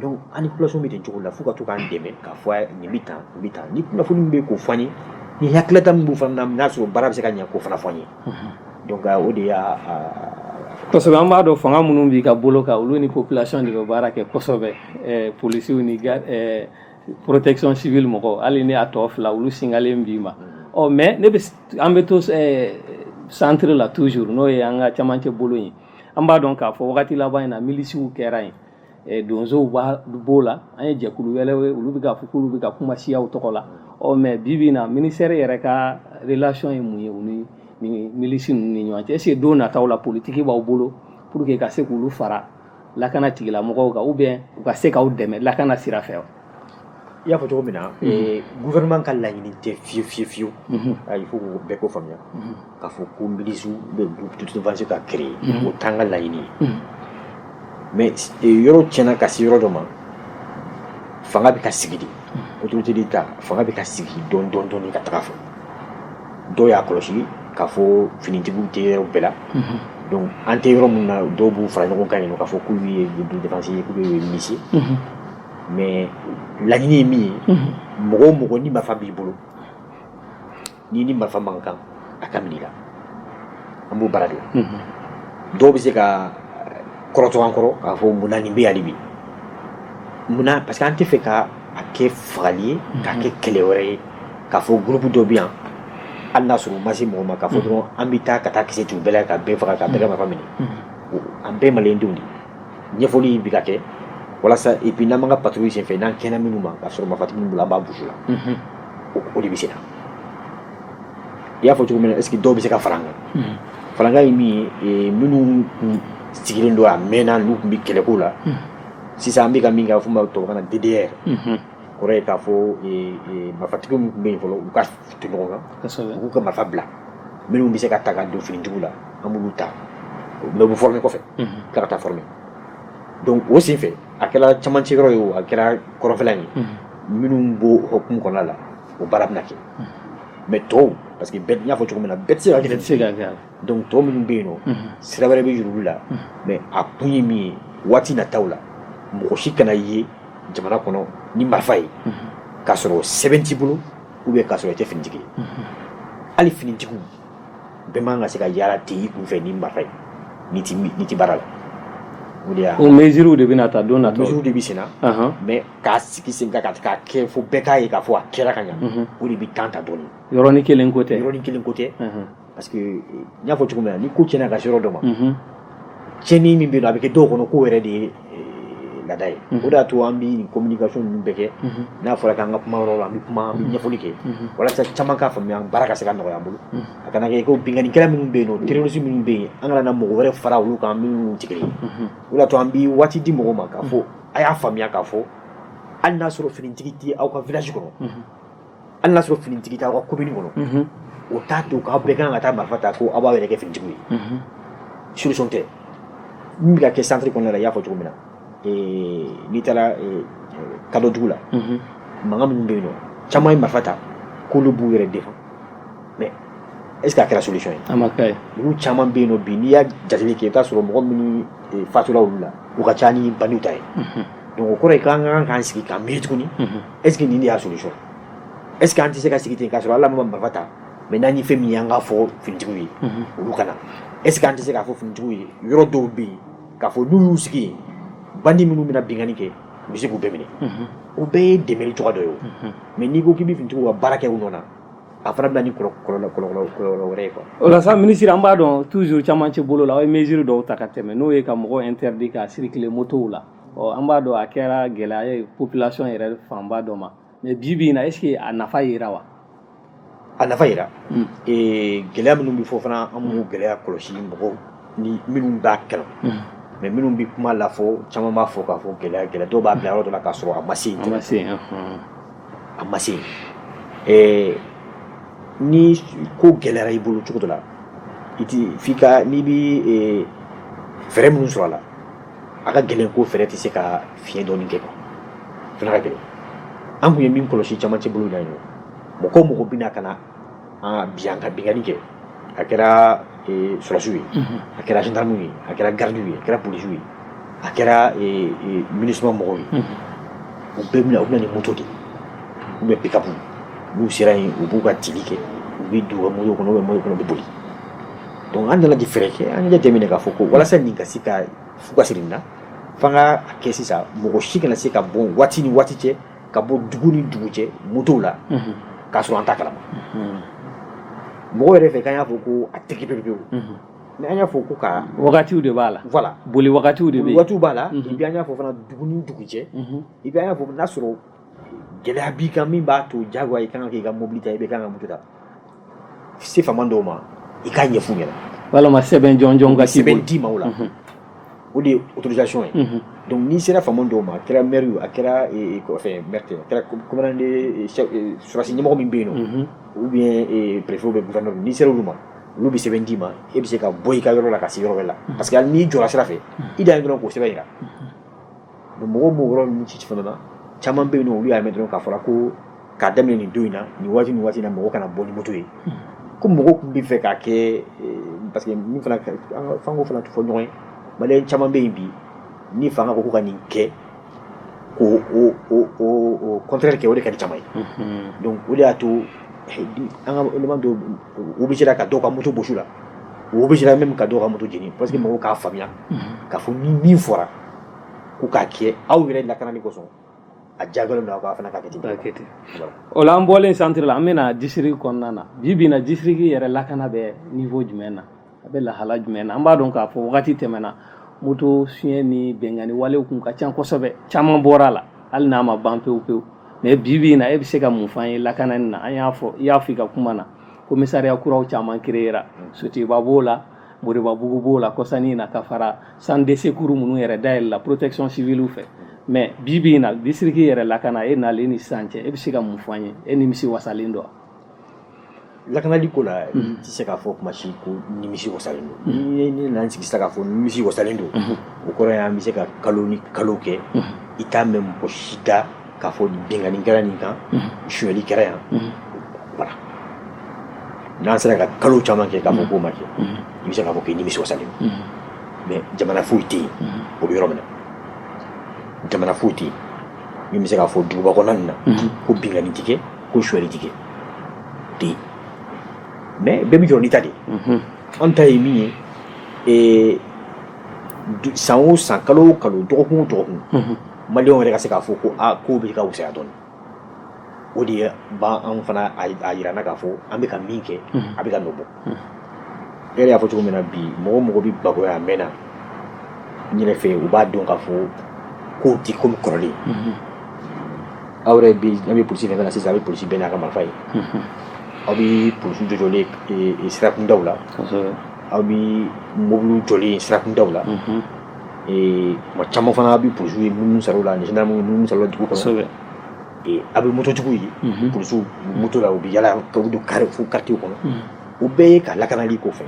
donc an ni population bɛ ten cogo la fo ka to k'an dɛmɛ k'a fɔ a ye nin bɛ tan nin bɛ tan ni kunnafoni min bɛ yen k'o fɔ an ye ni hakilila min b'u fana na n'a sɔrɔ baara bɛ se ka ɲɛ k'o fana fɔ an ye donc o de y'a kosɛbɛ an b'a dɔn fanga minnu b'i ka bolo kan olu ni population de bɛ baara kɛ kosɛbɛ polisiw ni protection civile mɔgɔw hali ni a tɔ fila olu singalen b'i ma ɔ mais ne bɛ an bɛ to centre la toujours n'o ye an ka camancɛ bolo in ye an b'a dɔn k'a fɔ wagati laban in na milisiw kɛra yen eh, donsow b'o la an ye jɛkulu wɛrɛw ye olu bɛ ka fɔ k'olu bɛ ka kuma siyaw tɔgɔ la ɔ mais bi bi in na ministère yɛrɛ ka relation ye mun ye u ni ni milisi ninnu ni ɲɔgɔn cɛ est ce que don nataw la politiki b'aw bolo pour que ka se k'olu fara lakana tigilamɔgɔw kan ou bien u ka se k'aw dɛmɛ lakana sira fɛ wa i y'a fɔ cogo min na gouvernement ka laɲini tɛ fiyewu fiyewu fiyewu il faut que bɛɛ k'o faamuya k'a fɔ ko milisi ou bien d'autodéfense ka créer o t'an ka laɲini ye mais yɔrɔ tiɲɛna ka se yɔrɔ dɔ ma fanga bɛ ka sigi de autorité d'État fanga bɛ ka sigi dɔɔni dɔɔni dɔɔni ka taga fɛ dɔw y'a kɔlɔsi k'a fɔ finitigiw tɛ yɔrɔ bɛɛ la donc an tɛ yɔrɔ min na dɔw b'u fara ɲɔgɔn kan yen nɔ k'a fɔ k'u ye d'autodéfense ye k'u ye milisi mais laɲini ye min ye mɔgɔ o mɔgɔ ni marifa b'i bolo n'i ni marifa man kan a ka minɛ i la an b'o baara de la dɔw bɛ se ka kɔrɔtɔ an kɔrɔ k'a fɔ munna nin bɛ yan hali bi munna parce que an tɛ fɛ ka a kɛ fagali ye k'a kɛ kɛlɛ wɛrɛ ye k'a fɔ gurupu dɔ bɛ yan hali n'a sɔrɔ u ma se mɔgɔ ma k'a fɔ dɔrɔn an bɛ taa ka taa kisɛ t'u bɛɛ la ka bɛɛ faga ka bɛɛ ka marifa minɛ an bɛɛ ye maliyɛndenw de ye ɲɛfɔli bɛ ka kɛ walasa et puis n'an b'an ka patrouille senfɛ n'an kɛnɛ minnu ma k'a sɔrɔ marifatigi minnu bolo an b'a bɔs'u la o de bɛ sen na i y'a fɔ cogo min na est ce que dɔw bɛ se ka fara an kan fara an kan ye min ye minnu tun sigilen don a mɛnna n'u tun bɛ kɛlɛko la sisan an bɛ ka min kɛ a bɛ f'o ma tubabukan na DDR kɔrɔ ye k'a fɔ marifatigi minnu tun bɛ yen fɔlɔ u ka ton ɲɔgɔn kan u k'u ka marifa bila minnu bɛ se ka ta ka don finitigiw la an b'olu ta mais u bɛ former kɔfɛ tila ka taa former donc o sen fɛ a kɛra camancɛ yɔrɔ ye o a kɛra kɔrɔnfɛla ye minnu b'o hukumu kɔnɔna la o baara bɛna kɛ mais tɔw parce que bɛɛ n y'a fɔ cogo min na bɛɛ tɛ se ka kɛ se ka kɛ donc tɔw minnu bɛ yen nɔ sira wɛrɛ bɛ yir'olu la mais a kun ye min ye waati nataw la mɔgɔ si kana ye jamana kɔnɔ ni marifa ye k'a sɔrɔ sɛbɛn t'i bolo ou bien k'a sɔrɔ i tɛ finitigi ye hali finitigiw bɛɛ man ka se ka yaala ten i kunfɛ ni marifa ye n'i tɛ baara la o de y'a o mesures de bɛna ta don na mesures de bɛ sen na mais k'a sigi sen kan k'a kɛ fo bɛɛ k'a ye k'a fɔ a kɛra ka ɲa o de bɛ temps ta dɔɔni yɔrɔnin kelen ko tɛ yɔrɔnin kelen ko tɛ Parce que n y'a fɔ cogo min na ni ko cɛnna ka se yɔrɔ dɔ ma, unhun, cɛnni min bɛ yen a bɛ kɛ dɔw kɔnɔ k'o yɛrɛ de ye laada ye, unhun, o de y'a to an bɛ nin communication ninnu bɛɛ kɛ, unhun, n'a fɔra k'an ka kuma yɔrɔ la an bɛ kuma an bɛ ɲɛfɔli kɛ, unhun, walasa caman k'a faamuya baara ka se ka nɔgɔya an bolo, unhun, a kana kɛ ko binkannikɛla minnu bɛ yen nɔ terroriste minnu bɛ yen an kana na mɔgɔ wɛrɛ fara olu kan minnu tɛ kelen ye, unhun, o de y'a to an bɛ waati di mɔgɔw ma k'a fɔ a y'a faamuya k'a fɔ hali n'a sɔrɔ finitigi tɛ aw ka village kɔnɔ, unhun hali n'a sɔrɔ finitigi t'aw ka commune kɔnɔ o t'a to k'aw bɛɛ kan ka taa marifa ta ko aw b'aw yɛrɛ kɛ finitigiw ye solution tɛ min bɛ ka kɛ centre kɔnɔna la i y'a fɔ cogo min na n'i taara kadɔdugu la mankan minnu bɛ yen nɔ caman ye marifa ta k'olu b'u yɛrɛ défend mais est ce que a kɛra solution ye a ma kɛ ye olu caman bɛ yen nɔ bi n'i y'a jateli kɛ i bɛ t'a sɔrɔ mɔgɔ minnu fatura olu la u ka ca ni bandiw ta ye donc o kɔrɔ ye k'an ka kan k'an sigi k'an miiri tuguni est-ce que nin de y'a solution est ce que an tɛ se ka sigi ten k'a sɔrɔ hali an ma marifa ta mais n'an ye fɛn min ye an k'a fɔ finitigiw ye olu ka na est ce que an tɛ se k'a fɔ finitigiw ye yɔrɔ dɔw bɛ yen k'a fɔ n'u y'u sigi yen bandi minnu bɛ na binkanni kɛ u bɛ se k'u bɛɛ minɛ o bɛɛ ye dɛmɛli cogoya dɔ ye o mais n'i ko k'i bɛ finitigiw ka baara kɛ u nɔ na a fana bɛ na ni kɔlɔlɔ kɔlɔlɔ kɔlɔlɔ wɛrɛ ye quoi o la sa minisiri an b'a dɔn toujours camancɛ bolo la aw ye mesure dɔw ta ka tɛmɛ n'o ye ka mɔgɔw interdit ka circuler motow la ɔ an b'a dɔn a kɛra gɛlɛya ye population yɛrɛ fanba dɔ ma mais bi bi in na est ce que a nafa yera wa a nafa yera ee gɛlɛya minnu bɛ fɔ fana an b'u gɛlɛya kɔlɔsi mɔgɔw ni minnu b'a kalama minnu bɛ kuma la fɔ caman b'a fɔ k'a fɔ gɛlɛya gɛlɛya dɔw b'a bila yɔrɔ dɔ la k'a sɔrɔ a ma se yen a ma se yen ɔhɔn. a ma se yen ɛɛ ni ko gɛlɛyara i bolo cogo dɔ la i ti f'i ka n'i bi ee, fɛɛrɛ minnu sɔrɔ a la a ka gɛlɛn ko fɛɛrɛ tɛ se ka fiɲɛ dɔɔni kɛ quoi a fana ka gɛlɛn an tun ye min kɔlɔsi camancɛ bolo in na yen nɔ mɔgɔ o mɔgɔ bɛ na ka na bin an kan binkanni kɛ a kɛra eh, sɔrɔsiw ye a kɛra gendarmew ye a kɛra gardiw ye a kɛra polisiw ye a kɛra eh, eh, minusima mɔgɔw ye u bɛɛ bɛ na u bɛ na ni moto de ye ou bien pikapu n'u sera yen u b'u ka tili kɛ u bɛ don u ka moto kɔnɔ u bɛ moto kɔnɔ u bɛ boli Donc an nana di fɛɛrɛ kɛ an y'a jateminɛ k'a fɔ ko walasa nin ka se ka fu ka siri nin na f'an k'a kɛ sisan mɔgɔ si kana se ka bɔ waati ni waati cɛ ka bɔ dugu ni dugu cɛ motow la k'a sɔrɔ an t'a kalama mɔgɔ yɛrɛ fɛ k'an y'a fɔ ko a tigɛ pewu mais an y'a fɔ ko ka wagatiw de b'a la voilà boli wagatiw de wagatiw b'a la et puis an y'a fɔ fana dugu ni dugu cɛ et puis an y'a fɔ n'a sɔrɔ gɛlɛya b'i kan min b'a to jagoya i kan ka k'i ka mobili ta i bɛ kan ka moto ta se faama dɔw ma i k'a ɲɛf'u ɲɛna walima sɛbɛn jɔnjɔn ka k'i sɛbɛn d'i ma o la mhm. o de ye autorisation ye mhm. donc n'i sera faama dɔw ma a kɛra maire ye a kɛra e, e, fɛn maire tɛ a kɛra commandant e, sɔrɔdasi ɲɛmɔgɔ min bɛ yen nɔ mhm. ou bien préfet ou bien gouverneur n'i sera olu ma olu bɛ sɛbɛn d'i ma e bɛ se ka bɔ i ka yɔrɔ la ka se yɔrɔ wɛrɛ la parce que hali n'i jɔra sira fɛ i dan ye dɔrɔn k'o sɛbɛn jira donc mɔgɔw m'o yɔrɔ ninnu ci fana na caman bɛ yen olu y'a mɛn dɔrɔn k'a fɔra ko k'a daminɛ nin don in na nin waati ni waati na mɔgɔ kana bɔ ni moto ye hmm. ko mɔgɔw tun bɛ fɛ k'a kɛ eh, parce que min fana fanko fana fɔ ɲɔgɔn ye maliyɛn caman bɛ yen bi ni fanga ko ko ka nin kɛ ko o o o o contraire kɛ o de ka di caman ye hmm. donc o de y'a to eh, an ka élément dɔw obligé la ka dɔw ka moto bɔsi u la u obligé la même ka dɔw ka moto jeni parce que hmm. mɔgɔw k'a faamuya k'a fɔ ni min fɔra ko k'a kɛ aw yɛrɛ lakanani kosɔn a jagoyalen don aw fana k'a kɛ ten o la an bɔlen centre la an bɛna district kɔnɔna na bi bi in na district yɛrɛ lakana bɛ niveau jumɛn na a bɛ lahala jumɛn na an b'a dɔn k'a fɔ waati tɛmɛna moto sonyɛ ni binkanni walew tun ka ca kosɛbɛ caman bɔra a la hali n'a ma ban pewu pewu mais bi bi in na e bɛ se ka mun f'an ye lakanani na an y'a fɔ i y'a fɔ i ka kuma na commissariat kuraw caman créera sotuba b'o la moribabugu b'o la kɔsa nin na ka fara centre de secours minnu yɛrɛ dayɛlɛla protection civile fɛ mais bi bi in na district yɛrɛ lakana e nalen ni sisan cɛ e bɛ se ka mun fɔ an ye e nimisi wasalen don lakanali ko la i tɛ se k'a fɔ kuma si ko nimisi wasalen don ni ne nana sigi sisan k'a fɔ nimisi wasalen don o kɔrɔ ye an bɛ se ka kalo ni kalo kɛ i t'a mɛn mɔgɔ si da k'a fɔ binkanni kɛra nin kan sonyɛli kɛra yan voilà n'an sera ka kalo caman kɛ k'a fɔ k'o ma kɛ i bɛ se k'a fɔ k'i nimisi wasalen don mais jamana foyi tɛ yen o bɛ yɔrɔ min na jamana foyi tɛ yen min bɛ se k'a fɔ duguba kɔnɔna nin na ko binkanni tɛ kɛ ko sonyɛli tɛ kɛ tɛ yen mais bɛɛ bɛ jɔ n'i ta de ye an ta ye min ye san o san kalo o kalo dɔgɔkun o dɔgɔkun maliyɛnw yɛrɛ ka se k'a fɔ ko aa kow bɛ ka wusaya dɔɔni o de b'an fana a jira an na k'a fɔ an bɛ ka min kɛ a bɛ ka nɔ bɔ e yɛrɛ y'a fɔ cogo min na bi mɔgɔ o mɔgɔ bɛ bamakɔ yan a mɛnna n yɛrɛ fɛ u b'a dɔn k'a fɔ kow tɛ komi kɔrɔlen aw yɛrɛ bɛ an bɛ polisi fɛn na sisan aw bɛ polisi bɛɛ n'a ka marifa ye aw bɛ polisiw jɔjɔlen sirakundaw la aw bɛ mobili jɔlen sirakundaw la ee ma caman fana a bɛ polisiw ye minnu sɔrɔ la ani gendarmew minnu sɔrɔ dugu kɔnɔ a bɛ mototigiw ye polisiw moto la u bɛ yala ka don kare fo quartier kɔnɔ o bɛɛ ye ka lakanali ko fɛ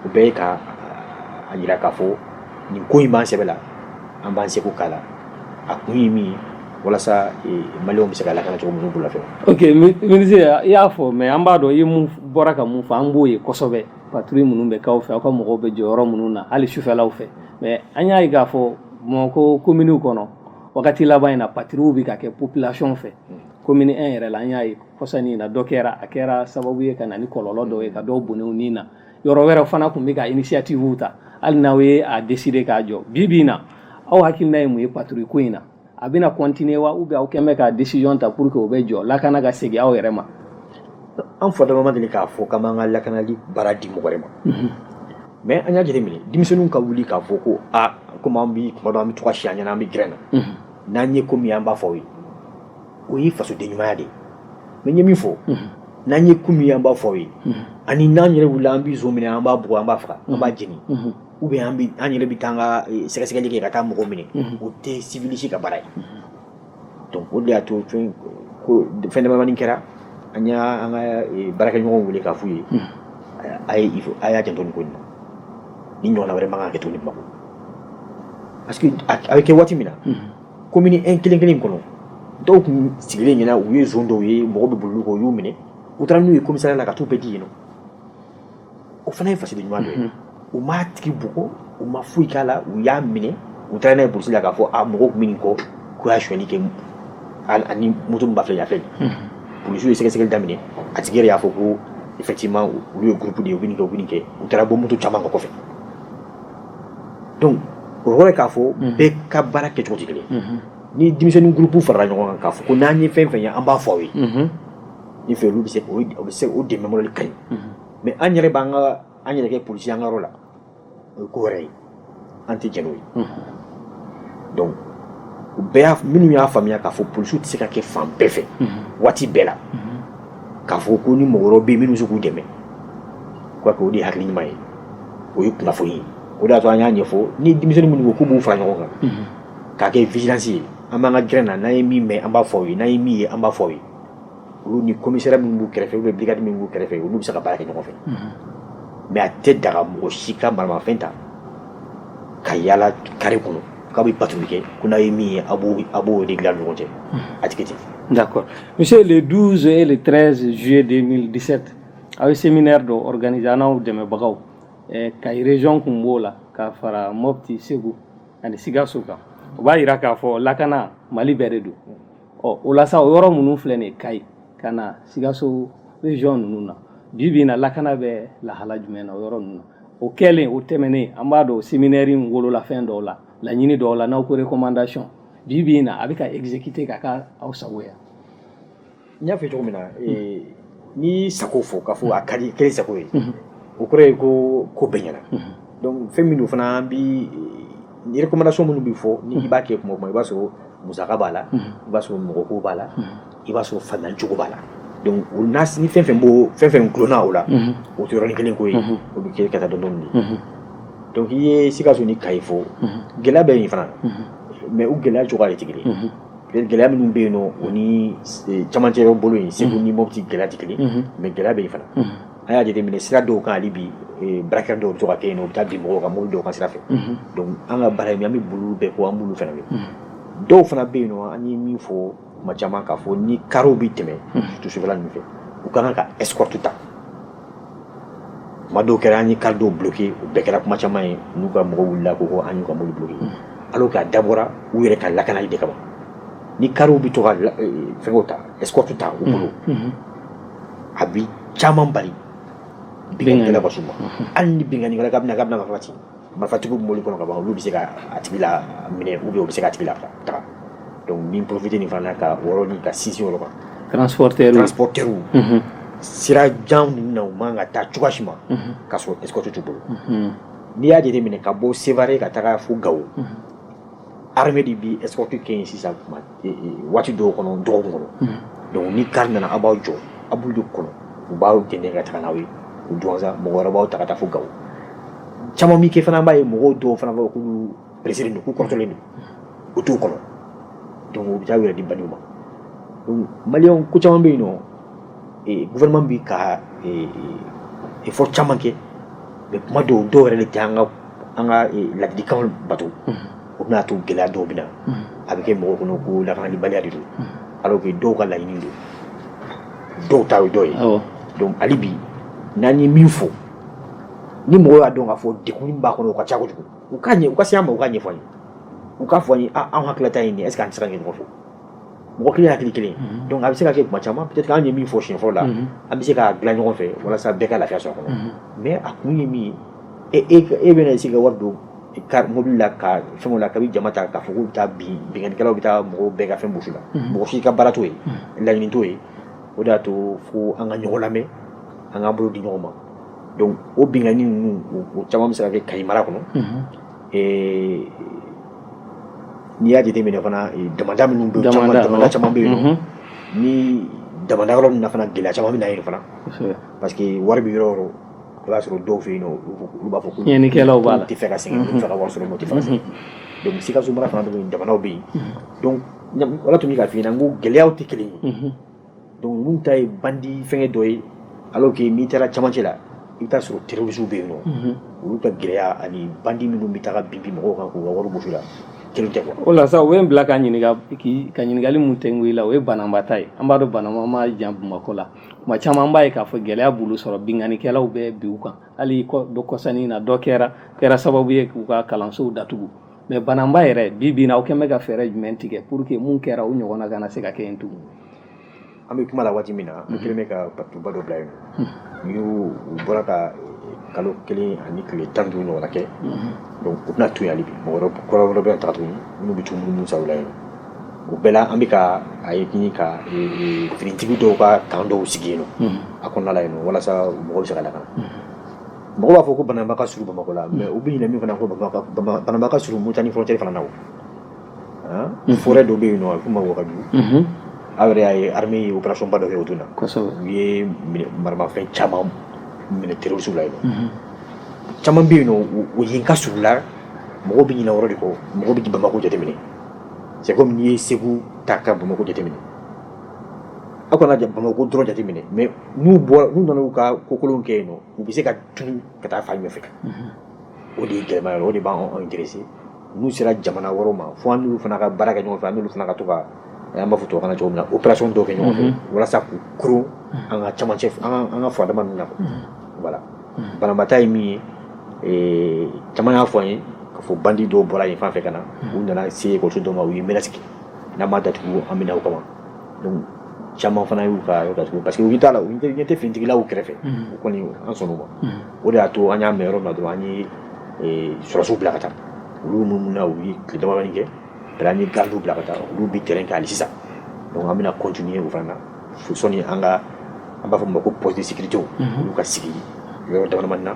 o bɛɛ ye ka a yira k'a fɔ nin ko in b'an sɛbɛ la an b'an seko k'a la a kun ye min ye walasa maliyɛnw bɛ se ka lakana cogo minnu bolo fɛ ministre i y'a fɔ mais an b'a dɔn i bɔra ka mun fɔ an b'o ye kosɛbɛ patrouille minnu bɛ k'aw fɛ aw ka mɔgɔw bɛ jɔ yɔrɔ minnu na hali sufɛlaw fɛ mais an y'a ye k'a fɔ Bamakɔ kominiw kɔnɔ wagati laban in na patrouilles bɛ ka kɛ population fɛ komini 1 yɛrɛ la an y'a ye kɔsani in na dɔ kɛra a kɛra sababu ye ka na ni kɔlɔlɔ dɔw ye ka dɔw bɔnɛ u ni na yɔrɔ wɛrɛ fana tun bɛ ka initiative ta hali n'aw ye a décider k'a jɔ bi bi in na aw hakilina ye mun ye patrouille ko in na a bɛna continuer wa ou bien aw quand même ka decision ta pour que o bɛ jɔ lakana ka segin aw yɛrɛ ma an fɔdama ma deli k'a fɔ k'an b'an ka lakanali baara di mɔgɔ wɛrɛ ma mhm. mais an y'a jateminɛ denmisɛnninw ka wuli k'a fɔ ko a komi an bi kuma dɔ an bɛ to ka si an ɲɛna an bɛ gɛrɛn na mhm. n'an ye ko min an b'a fɔ aw ye o ye fasoden ɲumanya de ye mais n ye min fɔ mhm. n'an ye ko min an b'a fɔ aw ye ani n'an yɛrɛ wulila an bi zon minɛ an b'a bugɔ an b'a faga an b'a jeni ou bien an yɛrɛ bɛ taa ka eh, sɛgɛsɛgɛli kɛ ka taa mɔgɔ minɛ mhm. o tɛ sivili si ka baara ye donc o de y'a to fɛn ko fɛn damadamanin kɛra an y'an ka eh, baarakɛɲɔgɔnw wele k'a f'u ye mhm. a ye a y'a janto nin ko in na nin ɲɔgɔnna wɛrɛ man kan ka kɛ tuguni bamakɔ parce que a bɛ kɛ waati min na komini mhm. un kelen kelen kɔnɔ dɔw tun sigilen ɲɛna u ye zon dɔw ye mɔgɔ bɛ boli kɔ u y'u minɛ u taara n'u ye komisariya la ka t'u bɛɛ di yen nɔ o fana ye fasoden ɲuman dɔ ye u m'a tigi bugɔ u ma foyi k'a la u y'a minɛ u taara n'a ye polisi la k'a fɔ mɔgɔw tun bɛ nin kɔ k'u y'a sonyali kɛ ani moto min b'a filɛ yan fɛ polisiw ye sɛgɛsɛgɛli daminɛ a tigi yɛrɛ y'a fɔ ko effectivement olu ye groupe de ye u bɛ nin kɛ u bɛ nin kɛ u taara bɔ moto caman kan kɔfɛ donc o yɔrɔ ye k'a fɔ bɛɛ ka baara kɛcogo tɛ kelen ni denmisɛnnin groupe farala ɲɔgɔn kan k'a fɔ ko n'an ye fɛn fɛn ye an b'a fɔ aw ye ne fɛ olu bɛ se bɛ se o dɛmɛ mɔdɛli ka ɲi mais an yɛrɛ b'an ka an yɛrɛ kɛ polisi an ka yɔrɔ la o ye ko wɛrɛ ye an tɛ jɛn n'o ye donc u bɛɛ minnu y'a faamuya k'a fɔ polisiw tɛ se ka kɛ fan bɛɛ fɛ waati bɛɛ la k'a fɔ ko ni mɔgɔ wɛrɛw bɛ minnu bɛ se k'u dɛmɛ k'o de ye hakili ɲuman ye o ye kunnafoni ye o de y'a to an y'a ɲɛfɔ ni denmisɛnnin minnu ko k'u b'u fara ɲɔgɔn kan k'a kɛ vigilance ye an b'an ka gɛrɛn na n'an ye min mɛn an b'a fɔ aw ye n'an ye min ye an b'a fɔ aw ye olu ni commissariat min b'u kɛrɛfɛ ou bien brigade min b'u kɛrɛfɛ olu bɛ se ka baara kɛ ɲɔgɔn fɛ mais a tɛ daga mɔgɔ si ka maramafɛn ta ka yaala carré kɔnɔ k'a bɛ patrouille kɛ ko n'a ye min ye a b'o régler ɲɔgɔn cɛ a tɛ kɛ ten d'accord monsieur le 12 et le 13 juillet 2017 aw ye séminaire dɔ organiser an n'aw dɛmɛbagaw eh, kayi région kun b'o la ka fara mopti segu ani sikaso kan o b'a jira k'a fɔ lakana mali bɛɛ de don ɔ o la sa o yɔrɔ minnu filɛ nin ye kayi ka na sikaso région ninnu na bi bi in na lakana bɛ lahala jumɛn na o yɔrɔ ninnu na o kɛlen o tɛmɛnen an b'a dɔn séminaire in wolola fɛn dɔw la laɲini dɔw la n'aw ko recommandation bi bi in na a bɛ ka exécuter ka k'a aw sago ye n y'a fɔ cogo min na N'i sago fɔ k'a fɔ a kɛlen i sago ye o kɔrɔ ye ko ko bɛɛ ɲɛna donc fɛn min don fana bi recommandation minnu bɛ fɔ n'i b'a kɛ kuma o kuma i b'a sɔrɔ musaka b'a la i b'a sɔrɔ mɔgɔ ko b'a la i b'a sɔrɔ fancogo b'a la donc ni fɛn fɛn bɔ fɛn fɛn dulonna o la o tɛ yɔrɔnin kelen ko ye o bɛ kɛ ka taa dɔɔnin dɔɔnin de donc i ye sikaso ni kayi fɔ gɛlɛya bɛ yen fana mais u gɛlɛya cogoya de tɛ kelen gɛlɛya minnu bɛ yen nɔ o ni camancɛ yɔrɔ bolo yen segu ni mɔti gɛlɛya tɛ kelen mais gɛlɛya bɛ yen fana an y'a jateminɛ sira dɔw kan hali bi braquage dɔw bɛ to ka kɛ yen u bɛ taa bin mɔgɔw ka mobili dɔw kan sira fɛ donc an ka baara in an bɛ boli bɛɛ kɔ an b'olu fana kɛ dɔw fana bɛ yen nɔ an ye min fɔ kuma caman k'a fɔ ni kariw bɛ tɛmɛ surtout sufɛla ninnu fɛ u ka kan ka escorte ta kuma dɔw kɛra an ye kari dɔw bloqué o bɛɛ kɛra kuma caman ye n'u ka mɔgɔw wulila ko ko an y'u ka mobili bloqué mm. alors que a dabɔra u yɛrɛ ka lakanali de kama ni kariw bɛ to ka e, fɛnkɛw ta escorte ta u bolo mm. mm-hmm. a bi caman bali binkannikɛla ka s'u ma mm-hmm. hali ni binkannikɛla k'a bɛna marifati marifatigiw bɛ mobili kɔnɔ ka ban olu bɛ se ka a tigi laminɛ ou bien u bɛ se k'a tigi lataga donc n bɛ n profiter nin fana na ka o yɔrɔ nin ka sinsin o yɔrɔ kan transporteurs transporteurs sira jan ninnu na u man ka taa cogoya si ma k'a sɔrɔ escorte t'u bolo n'i y'a jateminɛ ka bɔ Sevare ka taga fo Gawo Armée de bi escorte kɛ yen sisan waati dɔw kɔnɔ dɔgɔkun kɔnɔ donc ni kari nana aw b'aw jɔ aw b'olu de kɔnɔ u b'aw dɛndɛn ka taa n'aw ye Duwanza mɔgɔ wɛrɛ b'aw ta ka taa fo Gawo caman min kɛ fana b'a ye mɔgɔw dɔw fana b'a fɔ k'olu pressé don k'u kɔrɔtɔlen don u t'u kɔnɔ donc u bɛ taa u yɛrɛ di bandiw ma maliyɛnw ko caman bɛ yen nɔ gouvernement bɛ ka effort caman kɛ mais kuma dɔw dɔw yɛrɛ de tɛ an ka an ka laadilikan bato o bɛna to gɛlɛya dɔw bɛ na a bɛ kɛ mɔgɔw kɔnɔ ko lakanabaliya de don alors que dɔw ka laɲini don dɔw ta ye dɔ ye donc hali bi n'an ye min fɔ ni mɔgɔw y'a dɔn k'a fɔ degun b'a kɔnɔ o ka ca kojugu u ka ɲɛ u ka se an ma u k'a ɲɛfɔ an ye u k'a fɔ an ye an hakililata ye nin est-ce que an tɛ se ka sira ɲini ɲɔgɔn fɛ mɔgɔ kelen hakili kelen donc a bɛ se ka kɛ kuma caman peut être an ye min fɔ siɲɛ fɔlɔ la an bɛ se k'a dilan ɲɔgɔn fɛ walasa bɛɛ ka lafiya sɔrɔ a kɔnɔ mais a kun ye min ye e e bɛna se ka wari don ka mobili la ka fɛnw la kabi jama ta k'a fɔ k'u bɛ taa bin binkannikɛlaw bɛ taa mɔgɔw bɛɛ ka fɛn bɔsi u la mɔgɔ si ka baara t'o ye laɲini t'o ye o de y'a to fo an ka ɲɔgɔn lamɛn an k'an bolo di ɲɔgɔn ma donc o binkanni ninnu o caman bɛ se ka kɛ kayi mara kɔnɔ ee n'i y'a jate minɛ fana damanda minnu bɛ damanda caman bɛ yen nɔ ni damanda yɔrɔ ninnu na fana gɛlɛya caman bɛ na yen fana parce que wari bɛ yɔrɔ o yɔrɔ i b'a sɔrɔ dɔw fɛ yen nɔ olu b'a fɔ ko tiɲɛnikɛlaw b'a la tɛ fɛ ka sɛgɛn tɛ fɛ ka wari sɔrɔ mɔgɔ tɛ fɛ ka sɛgɛn donc sikaso mara fana bɛ yen damandaw bɛ yen donc o de la tun bɛ k'a f'i ɲɛna n ko gɛlɛyaw tɛ kelen ye donc ninnu ta ye bandi fɛngɛ dɔ ye alors que n'i taara camancɛ la i bɛ taa sɔrɔ terrorisiw bɛ yen nɔ mhm. olu ka gɛlɛya ani bandi minnu bɛ taga bin bin mɔgɔw kan k'u ka wari bɔsi u la kelen tɛ quoi. o la sa o ye n bila ka ɲininka k'i ka ɲininkali mun tɛ n la o ye bananba ta ye an b'a dɔn bananba ma jan bamakɔ la tuma caman an b'a ye k'a fɔ gɛlɛya b'olu sɔrɔ binkannikɛlaw bɛ bin u kan hali dɔ kɔsa nin na dɔ kɛra kɛra sababu ye k'u ka kalansow datugu mais bananba yɛrɛ bi bi na aw kɛlen bɛ ka fɛɛrɛ jumɛn tigɛ pour que mun kɛra o ɲɔgɔnna kana se ka kɛ yen tugun an bɛ kuma la waati min na an kɛlen bɛ ka patrouille ba dɔ bila yen n'u bɔra ka kalo kelen ani tile tan ni duuru ɲɔgɔnna kɛ donc u tɛna to yen hali bi mɔgɔ wɛrɛ kura wɛrɛ bɛ taga tuguni minnu bɛ tunu minnu saw la yen o bɛɛ la an bɛ ka a ɲini ka finitigi dɔw ka camp dɔw sigi yen nɔ a kɔnɔna la yen nɔ walasa mɔgɔw bɛ se ka lakana mɔgɔw b'a fɔ ko bananba ka surun bamakɔ la mais u bɛ ɲinɛ min fana ko bananba ka surun mauritanie frontière fana na o forêt dɔ bɛ yen nɔ a bɛ f'o ma wagadu aw yɛrɛ y'a ye armée ye opération ba dɔ kɛ o don na u ye maramafɛn caman minɛ terrorisiw la yen nɔ caman bɛ yen nɔ u ye n ka surun la mɔgɔw bɛ ɲinɛ o yɔrɔ de kɔ mɔgɔw bɛ bamakɔ jateminɛ c'est comme n'i ye segu ta ka bamakɔ jateminɛ aw kana bamakɔ dɔrɔn jateminɛ mais n'u bɔra n'u nana u ka kokolonw kɛ yen nɔ u bɛ se ka tunu ka taa fan ɲɛfɛ o de ye gɛlɛman yɔrɔ o de b'an intéressé n'u sera jamana wɛrɛw ma fo an n'olu fana ka baara kɛ ɲɔgɔn fɛ an n'olu fana ka to ka an b'a fɔ tubabukan na cogo min na opération dɔw kɛ ɲɔgɔn fɛ walasa k'u koron an ka camancɛ an ka an ka furadama ninnu na voilà bananba ta ye min ye ee caman y'a fɔ an ye k'a fɔ bandi dɔw bɔra yen fan fɛ ka na u nana se ekɔliso dɔw ma u ye menace kɛ n'aw m'a datugu an bɛ na aw kama donc caman fana y'u ka yɔrɔ datugu parce que u t'a la u ɲɛ tɛ finitigilaw kɛrɛfɛ o kɔni an sɔnna o ma o de y'a to an y'a mɛn yɔrɔ min na dɔrɔn an ye eh, sɔrɔsiw bila ka taa olu minnu na u ye tile damadɔni kɛ bɛɛ an ye gardiw bila ka taa olu bɛ terrain kan hali sisan donc an bɛna continuer o fana na fo sɔɔni an ka an b'a fɔ min ma ko poste de sécurité olu ka sigi yɔrɔ damadamani na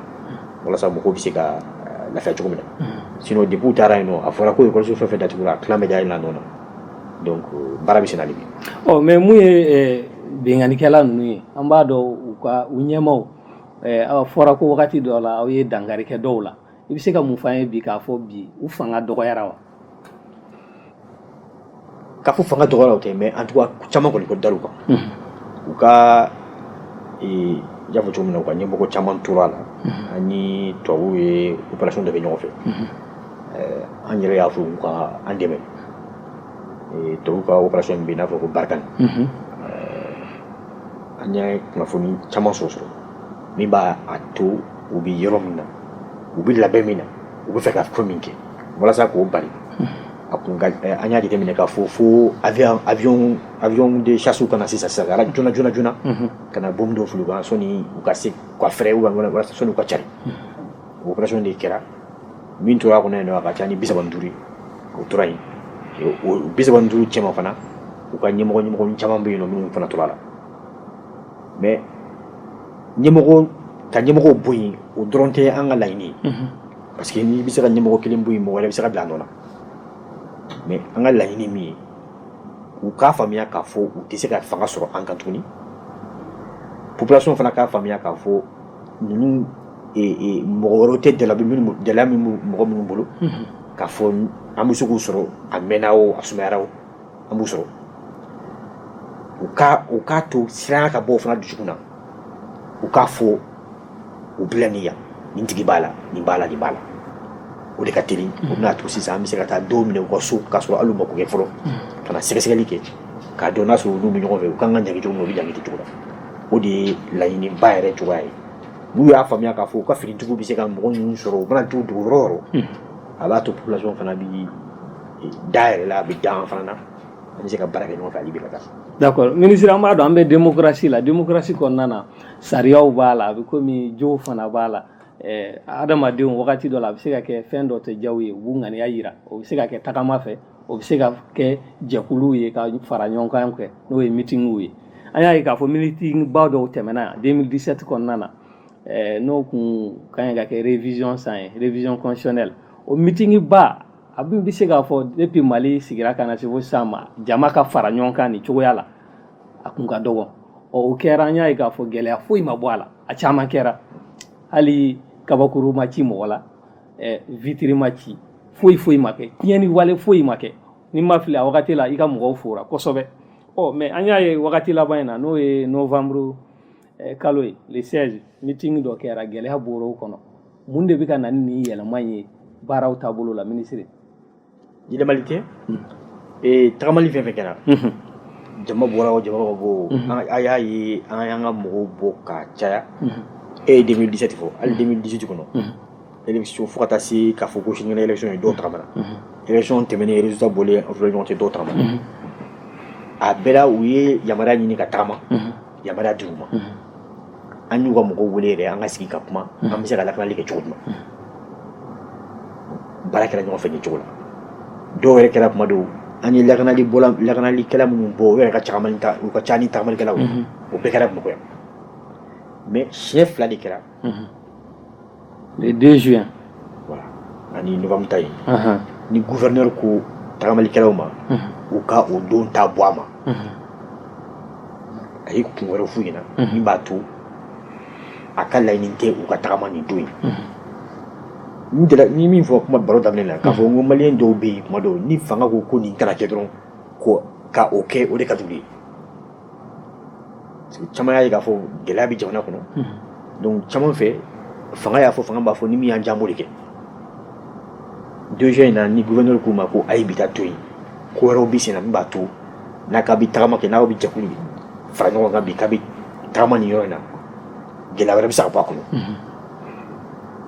walasa mɔgɔw bɛ se ka eh, lafiya cogo min na sinon depuis u taara yen nɔ a fɔra ko ekɔliso fɛn o fɛn datugura a tilan bɛ dayɛlɛn a nɔ na donc baara bɛ senna hali bi ɔ mais mun ye binkanikɛla ninnu ye an b'a dɔn u ka u ɲɛmaaw a fɔra ko wagati dɔ la aw ye dankari kɛ dɔw la i bɛ se ka mun f'an ye bi k'a fɔ bi u fanga dɔgɔyara wa k'a fɔ fanga dɔgɔyara o tɛ mais en tout cas caman kɔni ko dar'u kan u ka i y'a fɔ cogo min na u ka ɲɛmɔgɔ caman tora a la an ni tubabuw ye opération dɔ kɛ ɲɔgɔn fɛ an yɛrɛ y'a fɔ u ka an dɛmɛ tubabuw ka opération min bɛ yen n'a fɔ ko Barkhane an ye kunnafoni caman sɔrɔ sɔrɔ min b'a to u bɛ yɔrɔ min na u bɛ labɛn min na u bɛ fɛ ka fɛn min kɛ walasa k'o bali an y'a jateminɛ k'a fɔ fo avion de chasse ka na sisan sisan ka na joona joona ka na bombe dɔ fili u kan sɔnni u ka se ka fɛɛrɛ walasa sɔnni u ka cari o opération de kɛra min tora a kɔnɔ yen nɔ a ka ca ni bi saba ni duuru o tora yen bi saba ni duuru cɛma fana u ka ɲɛmɔgɔ ɲɛmɔgɔ caman bɛ yen minnu fana tora a la mais ɲɛmɔgɔ ka ɲɛmɔgɔ bɔ yen o dɔrɔn tɛ an ka laɲini ye parce que n'i bɛ se ka ɲɛmɔgɔ kelen bɔ yen mɔgɔ wɛrɛ bɛ se ka bila a nɔ na mais an ka laɲini min ye u k'a faamuya k'a fɔ u tɛ se ka fanga sɔrɔ an kan tuguni population fana k'a faamuya k'a fɔ ninnu mɔgɔ wɛrɛ tɛ jala jala mɔgɔ minnu bolo k'a fɔ an bɛ se k'u sɔrɔ a mɛnna o a sumayara o an b'u sɔrɔ u ka u k'a to siranya ka bɔ o fana dusukun na u k'a fɔ u bila ni yan nin tigi b'a la nin b'a la nin b'a la o de ka teli o bɛna a to sisan an bɛ se ka taa dɔw minɛ u ka so k'a sɔrɔ hali u ma ko kɛ fɔlɔ ka na sɛgɛsɛgɛli kɛ k'a dɔn n'a sɔrɔ olu bɛ ɲɔgɔn fɛ u ka kan ka ɲangi cogo min na u bɛ ɲangi cogo la o de ye laɲini ba yɛrɛ cogoya ye n'u y'a faamuya k'a fɔ u ka finitigiw bɛ se ka mɔgɔ ninnu sɔrɔ u mana t'u dogo yɔrɔ o yɔrɔ hmm. a b'a to population fana bɛ eh, da a yɛrɛ la a bɛ da an fana na an bɛ se ka baara kɛ ɲɔgɔn fɛ hali bi ka taa. d'accord minisiri an b'a dɔn an bɛ démocratie la démocratie kɔnɔna na sariyaw b'a la a bɛ komi jow fana b'a la eh, adamadenw wagati dɔ la a bɛ se ka kɛ fɛn dɔ tɛ diya u ye u b'u ŋaniya jira o bɛ se ka kɛ tagama fɛ o bɛ se ka kɛ jɛkuluw ye ka fara ɲɔgɔn kan kɛ n'o ye mitinw ye an y'a ye k'a fɔ mitinba dɔw tɛmɛna 2017 kɔnɔna na eh, n'o kun ka ɲi ka kɛ révision san ye révision constitutionnelle o mitinba a bɛ bɛ se k'a fɔ depuis mali sigira ka na se fo sisan ma jama ka fara ɲɔgɔn kan nin cogoya la a kun ka dɔgɔ ɔ o kɛra an y'a ye k'a fɔ gɛlɛya foyi ma bɔ a la a caman kɛra hali kabakuru ma ci mɔgɔ la ɛ vitiri ma ci foyi foyi ma kɛ tiɲɛni wale foyi ma kɛ ni n ma fili a wagati la i ka mɔgɔw fora kosɛbɛ ɔ mais an y'a ye wagati laban in na n'o ye novembre eh, kalo ye le 16 mitingi dɔ kɛra gɛlɛya bɔra o kɔnɔ mun de bɛ ka na ni nin yɛlɛma ye baaraw taabolo la minisiri yɛlɛmali tɛ ee tagamali fɛn fɛn kɛra jama bɔra o jama ma bɔ o a y'a ye an y'an ka mɔgɔw bɔ ka caya e ye 2017 fo hali 2018 kɔnɔ élection fo ka taa se k'a fɔ ko sinikɛnɛ élection ye dɔw tagamana élection tɛmɛnen résultat bɔlen o fila ɲɔgɔn cɛ dɔw tagamana a bɛɛ la u ye yamaruya ɲini ka tagama yamaruya dir'u ma an y'u ka mɔgɔw wele yɛrɛ an ka sigi ka kuma an bɛ se ka lakanali kɛ cogo min baara kɛra ɲɔgɔn fɛ nin cogo la dɔw yɛrɛ kɛra kuma dɔw an ye lakanali bɔla lakanalikɛla minnu bɔ u yɛrɛ ka caman ta u ka ca ni tagamalikɛlaw ye o bɛɛ kɛra bamakɔ yan mais siɲɛ fila de kɛra le deux juin ani novembre ta ye ni gouverneur ko tagamalikɛlaw ma u ka o don ta bɔ a ma a ye kun wɛrɛ f'u ɲɛ na min b'a to a ka laɲini tɛ u ka tagama nin don ye n ye min fɔ kuma baro daminɛ la k'a fɔ n ko maliyɛn dɔw bɛ yen kuma dɔw ni fanga ko ko nin kana kɛ dɔrɔn ka o kɛ o de ka d'u ye caman y'a ye k'a fɔ gɛlɛya bɛ jamana kɔnɔ donc caman fɛ fanga y'a fɔ fanga m'a fɔ ni min y'an diya an b'o de kɛ deux juin in na ni gouverneur k'u ma ko a ye bi ta to yen ko wɛrɛw bɛ senna min b'a to n'a k'a bɛ tagama kɛ n'aw bɛ jɛkulu fara ɲɔgɔn kan bi k'a bɛ tagama nin yɔrɔ in na gɛlɛya wɛrɛ bɛ se ka bɔ a kɔnɔ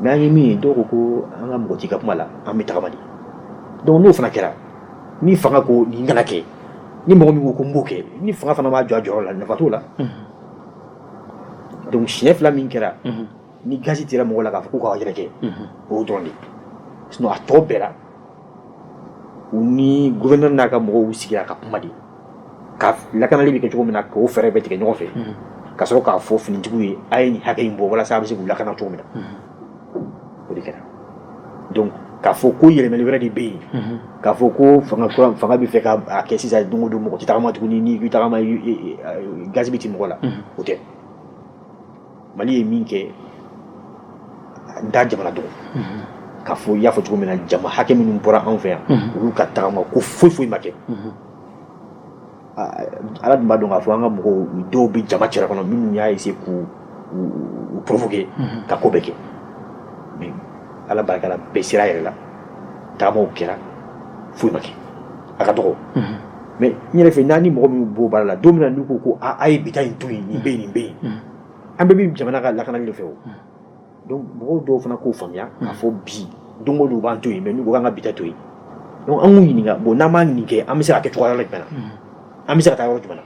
mais an ye min ye dɔw ko ko an mako t'i ka kuma la an bɛ tagama de donc n'o fana kɛra ni fanga ko nin kana kɛ ni mɔgɔ min ko ko n b'o kɛ ni fanga fana m'a jɔ a jɔyɔrɔ la nafa t'o la donc siɲɛ fila min kɛra ni gazi tira mɔgɔ la k'a fɔ k'u ka yɛrɛkɛ o dɔrɔn de sinon a tɔ bɛɛ la u ni gouverneur n'a ka mɔgɔw sigira ka kuma de ka lakanali bɛ kɛ cogo min na k'o fɛɛrɛ bɛɛ tigɛ ɲɔgɔn fɛ ka sɔrɔ k'a fɔ finitigiw ye a ye nin hakɛ in bɔ walasa a bɛ se k'u lakana cogo min na o de kɛra donc k'a fɔ ko yɛlɛmali wɛrɛ de bɛ yen k'a fɔ ko fanga bɛ fɛ k'a kɛ sisan don o don mɔgɔ tɛ tagama tuguni n'i bɛ tagama gazi bɛ ti mɔgɔ la o tɛ mali ye min kɛ n t'a jamana dɔn k'a fɔ i y'a fɔ cogo min na jama hakɛ minnu bɔra anw fɛ yan olu ka tagama ko foyi foyi ma kɛ ala dun b'a dɔn k'a fɔ an ka mɔgɔw dɔw bɛ jama cɛla kɔnɔ minnu y'a essayer k'u provoquer mhm. ka ko bɛɛ kɛ mais ala barika la bɛɛ sera a yɛrɛ la taamaw kɛra foyi ma kɛ a ka dɔgɔ mhm. mais n yɛrɛ fɛ n'an ni mɔgɔ min b'o baara la don min na n'u ko ko a ye bi ta in to yen nin bɛ yen nin bɛ yen mhm. an bɛɛ bɛ jamana ka lakanali de fɛ o donc mɔgɔw dɔw fana k'o faamuya k'a fɔ bi don o don u b'an to yen mais n'u ko k'an ka bi ta to yen donc an k'u ɲininka bon n'an ma nin kɛ an bɛ se ka kɛ cogoya jumɛn na an bɛ se ka taa yɔrɔ jumɛn na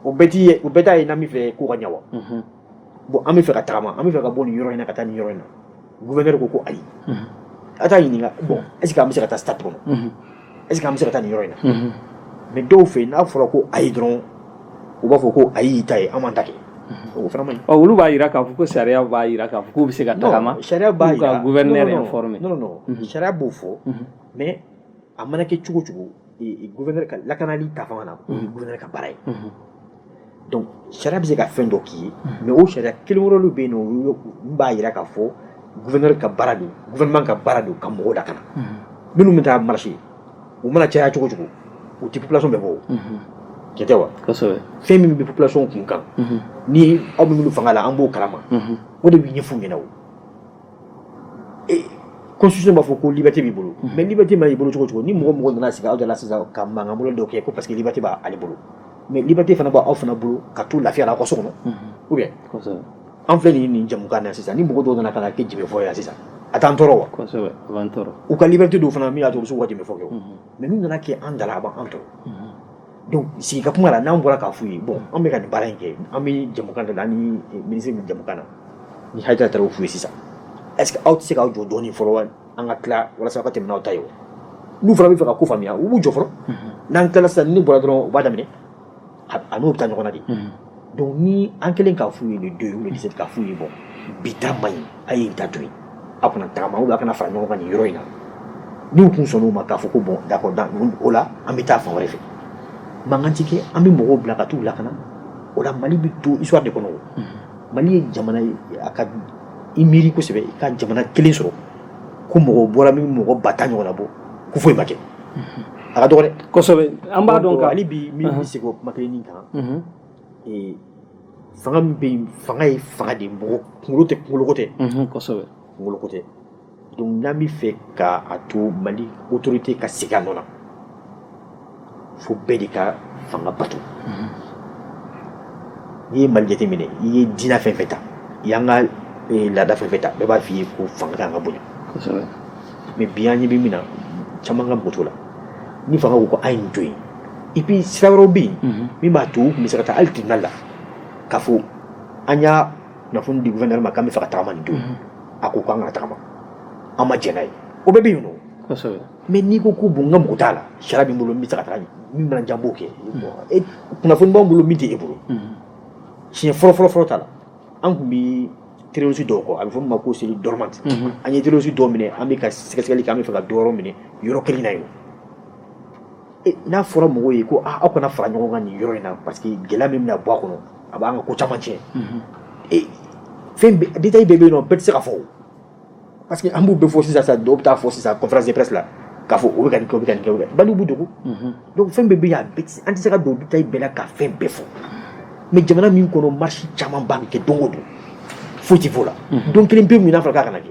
o bɛɛ t'a ye n'an bɛ fɛ ko ka ɲɛ wa bon an bɛ fɛ ka tagama an bɛ fɛ ka bɔ nin yɔrɔ in na ka taa nin yɔrɔ in na gouverneur ko ko ayi a t'a ɲininka bon est ce que an bɛ se ka taa stade kɔnɔ est ce que an bɛ se ka taa nin yɔrɔ in na Unhun. mais dɔw fɛ n'a fɔra ko ayi dɔrɔn u b'a fɔ ko ayi y'i ta ye an m'an ta kɛ o fana man ɲi Ɔ, olu b'a jira k'a fɔ ko sariya b'a jira k'a fɔ k'u bɛ se ka tagama Non, sariya b'a jira k'u ka gouverneur Non, non, non. informer. non non non sariya b'o fɔ mais a mana kɛ cogo o cogo e- e gouverneur ka lakanali ta fanga na o ye gouverneur ka baara ye donc sariya bɛ se ka fɛn dɔ k'i ye mais o sariya kelen wɛrɛw bɛ yen nɔ min b'a jira k'a fɔ gouverneur ka baara don gouvernement ka baara don ka mɔgɔw lakana minnu bɛ taa marché u mana caya cogo cogo u tɛ population bɛɛ bɔ tiɲɛ tɛ wa fɛn min bɛ population kunkan ni aw bɛ minnu fanga la an b'o kalama o de bɛ ɲɛf'u ɲɛna o constitution b'a fɔ ko liberté b'i bolo mais liberté ma i bolo cogo cogo ni mɔgɔ mɔgɔ nana sigi aw da la sisan ka mankan bolo dɔ kɛ ko parce que liberté b'ale bolo mais liberté fana b'aw fana bolo ka to lafiya la aw ka so kɔnɔ ou bien an filɛ nin nin jɛmukan na sisan ni mɔgɔ dɔw nana ka na kɛ jenbe fɔ yan sisan a t'an tɔɔrɔ wa kosɛbɛ a b'an tɔɔrɔ u ka liberté don fana min y'a to u bɛ se k'u ka jenbefɔ kɛ mais n'u nana kɛ an da la a b'an tɔɔrɔ donc sigi ka kuma la n'an bɔra k'a f'u ye bon an bɛ ka nin baara in kɛ an bɛ jɛmukan dɔ la an ni minisiri bɛ jɛmukan na ni Hayidara taara o f'u ye sisan est ce que aw tɛ se k'aw jɔ dɔɔnin fɔlɔ wa an ka tila walasa aw ka tɛmɛ n'aw ta ye n'u fana bɛ fɛ ka ko faamuya u b'u jɔ fɔlɔ n'an tilala sisan ni bɔra dɔrɔn u b'a daminɛ an n'u bɛ taa ɲɔgɔn na de donc ni an kɛlen k'a f'u ye le deux ou le dix-sept k'a f'u ye bon bi ta man ɲi a ye nin ta to yen a kana tagama ou bien a kana fara ɲɔgɔn kan nin yɔrɔ in na n'u tun sɔnn'o ma k'a fɔ ko bon d'accord donc o la an bɛ taa fan wɛrɛ fɛ mankan ti kɛ an bɛ mɔgɔw bila ka t'u lakana o la mali bɛ to histoire de kɔnɔ Mali ye jamana ye a ka i miiri kosɛbɛ i ka jamana kelen sɔrɔ ko mɔgɔw bɔra min mɔgɔ ba tan ɲɔgɔnna bɔ ko foyi ma kɛ a ka dɔgɔ dɛ kosɛbɛ an b'a dɔn hali bi n bɛ segin o kuma kelen nin kan fanga min bɛ yen fanga ye fanga de mɔgɔ kunkolo tɛ kunkoloko tɛ kunkoloko tɛ Donc n'an bɛ fɛ ka a to mali autorité ka segin a nɔ na fo bɛɛ de ka fanga bato n'i ye mali jate minɛ i ye diinɛ fan fɛ ta i y'an ka eh, laada fan fɛ ta bɛɛ b'a f'i ye ko fanga ka kan ka bonya mais bi an ɲɛ bɛ min na caman ka mago t'o la ni fanga ko ko a ye nin to yen et puis sira wɛrɛ bɛ yen min b'a to u tun bɛ se ka taa hali tribunal la k'a fɔ an y'a kunnafoni di gouverneur ma k'an bɛ fɛ ka tagama nin don a ko k'an kana tagama an ma jɛn n'a ye o bɛɛ bɛ yen nɔ kosɛbɛ mais n'i ko ko bon n ka mago t'a la sariya bɛ n bolo n bɛ se ka taga min mana diya n b'o kɛ e kunnafoni b'an bolo min tɛ e bolo siɲɛ fɔlɔ fɔlɔ fɔlɔ t'a la an tun bɛ terrorisi dɔw kɔ a bɛ fɔ min ma ko cellule dormante an ye terrorisi dɔw minɛ an bɛ ka sɛgɛsɛgɛli kɛ an bɛ fɛ ka dɔ yɔrɔ minɛ yɔrɔ kelen na yen N'a fɔra mɔgɔw ye ko aw kana fara ɲɔgɔn kan nin yɔrɔ in na parce que gɛlɛya min bɛna bɔ a kɔnɔ a b'an ka ko caman tiɲɛ détail bɛ yen bɛɛ tɛ se ka fɔ parce que an b'u bɛɛ fɔ sisan sa dɔw bɛ taa fɔ sisan conférence de presse la k'a fɔ bɛ kɛ kɛ balo bɛ dugu donc fɛn bɛɛ an tɛ se ka don détail bɛɛ la ka fɛn bɛɛ fɔ mais jamana min kɔnɔ marche caman ba bɛ kɛ don o don foyi tɛ fɔ o la don kelen pe min n'a fɔra k'a kana kɛ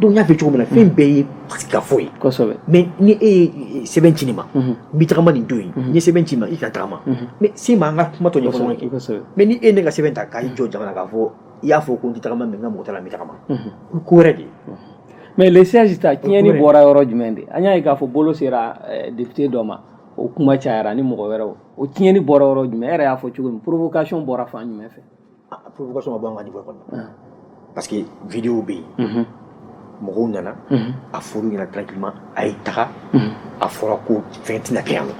donc n y'a fɛ cogo min na fɛn bɛɛ ye sigikafɔ ye kosɛbɛ mais ni e ye sɛbɛn ci ne ma n bɛ tagama nin don ye n ye sɛbɛn ci i ma i kana tagama mais se n ma an ka kuma tɔ ɲɛfɔ kɛ mais ni e ye ne ka sɛbɛn ta k'i jɔ jama na k'a fɔ i y'a fɔ ko n tɛ tagama mais n ka mago t'a la n bɛ tagama o ko wɛrɛ de ye mais le 16 ta tiɲɛni bɔra yɔrɔ jumɛn de an y'a ye k'a fɔ bolo sera député dɔ ma o kuma cayara ni mɔgɔ wɛrɛw o tiɲɛni bɔra yɔrɔ jumɛn e yɛrɛ y'a fɔ cogo min provocation bɔra fan jumɛn fɛ provocation ma bɔ an ka niveau kɔnɔ ah. parce que vidéo bɛ yen mɔgɔw nana a fɔr'u ɲɛ na tranquillement a ye taga a fɔra ko fɛn tɛna kɛ yan nɔ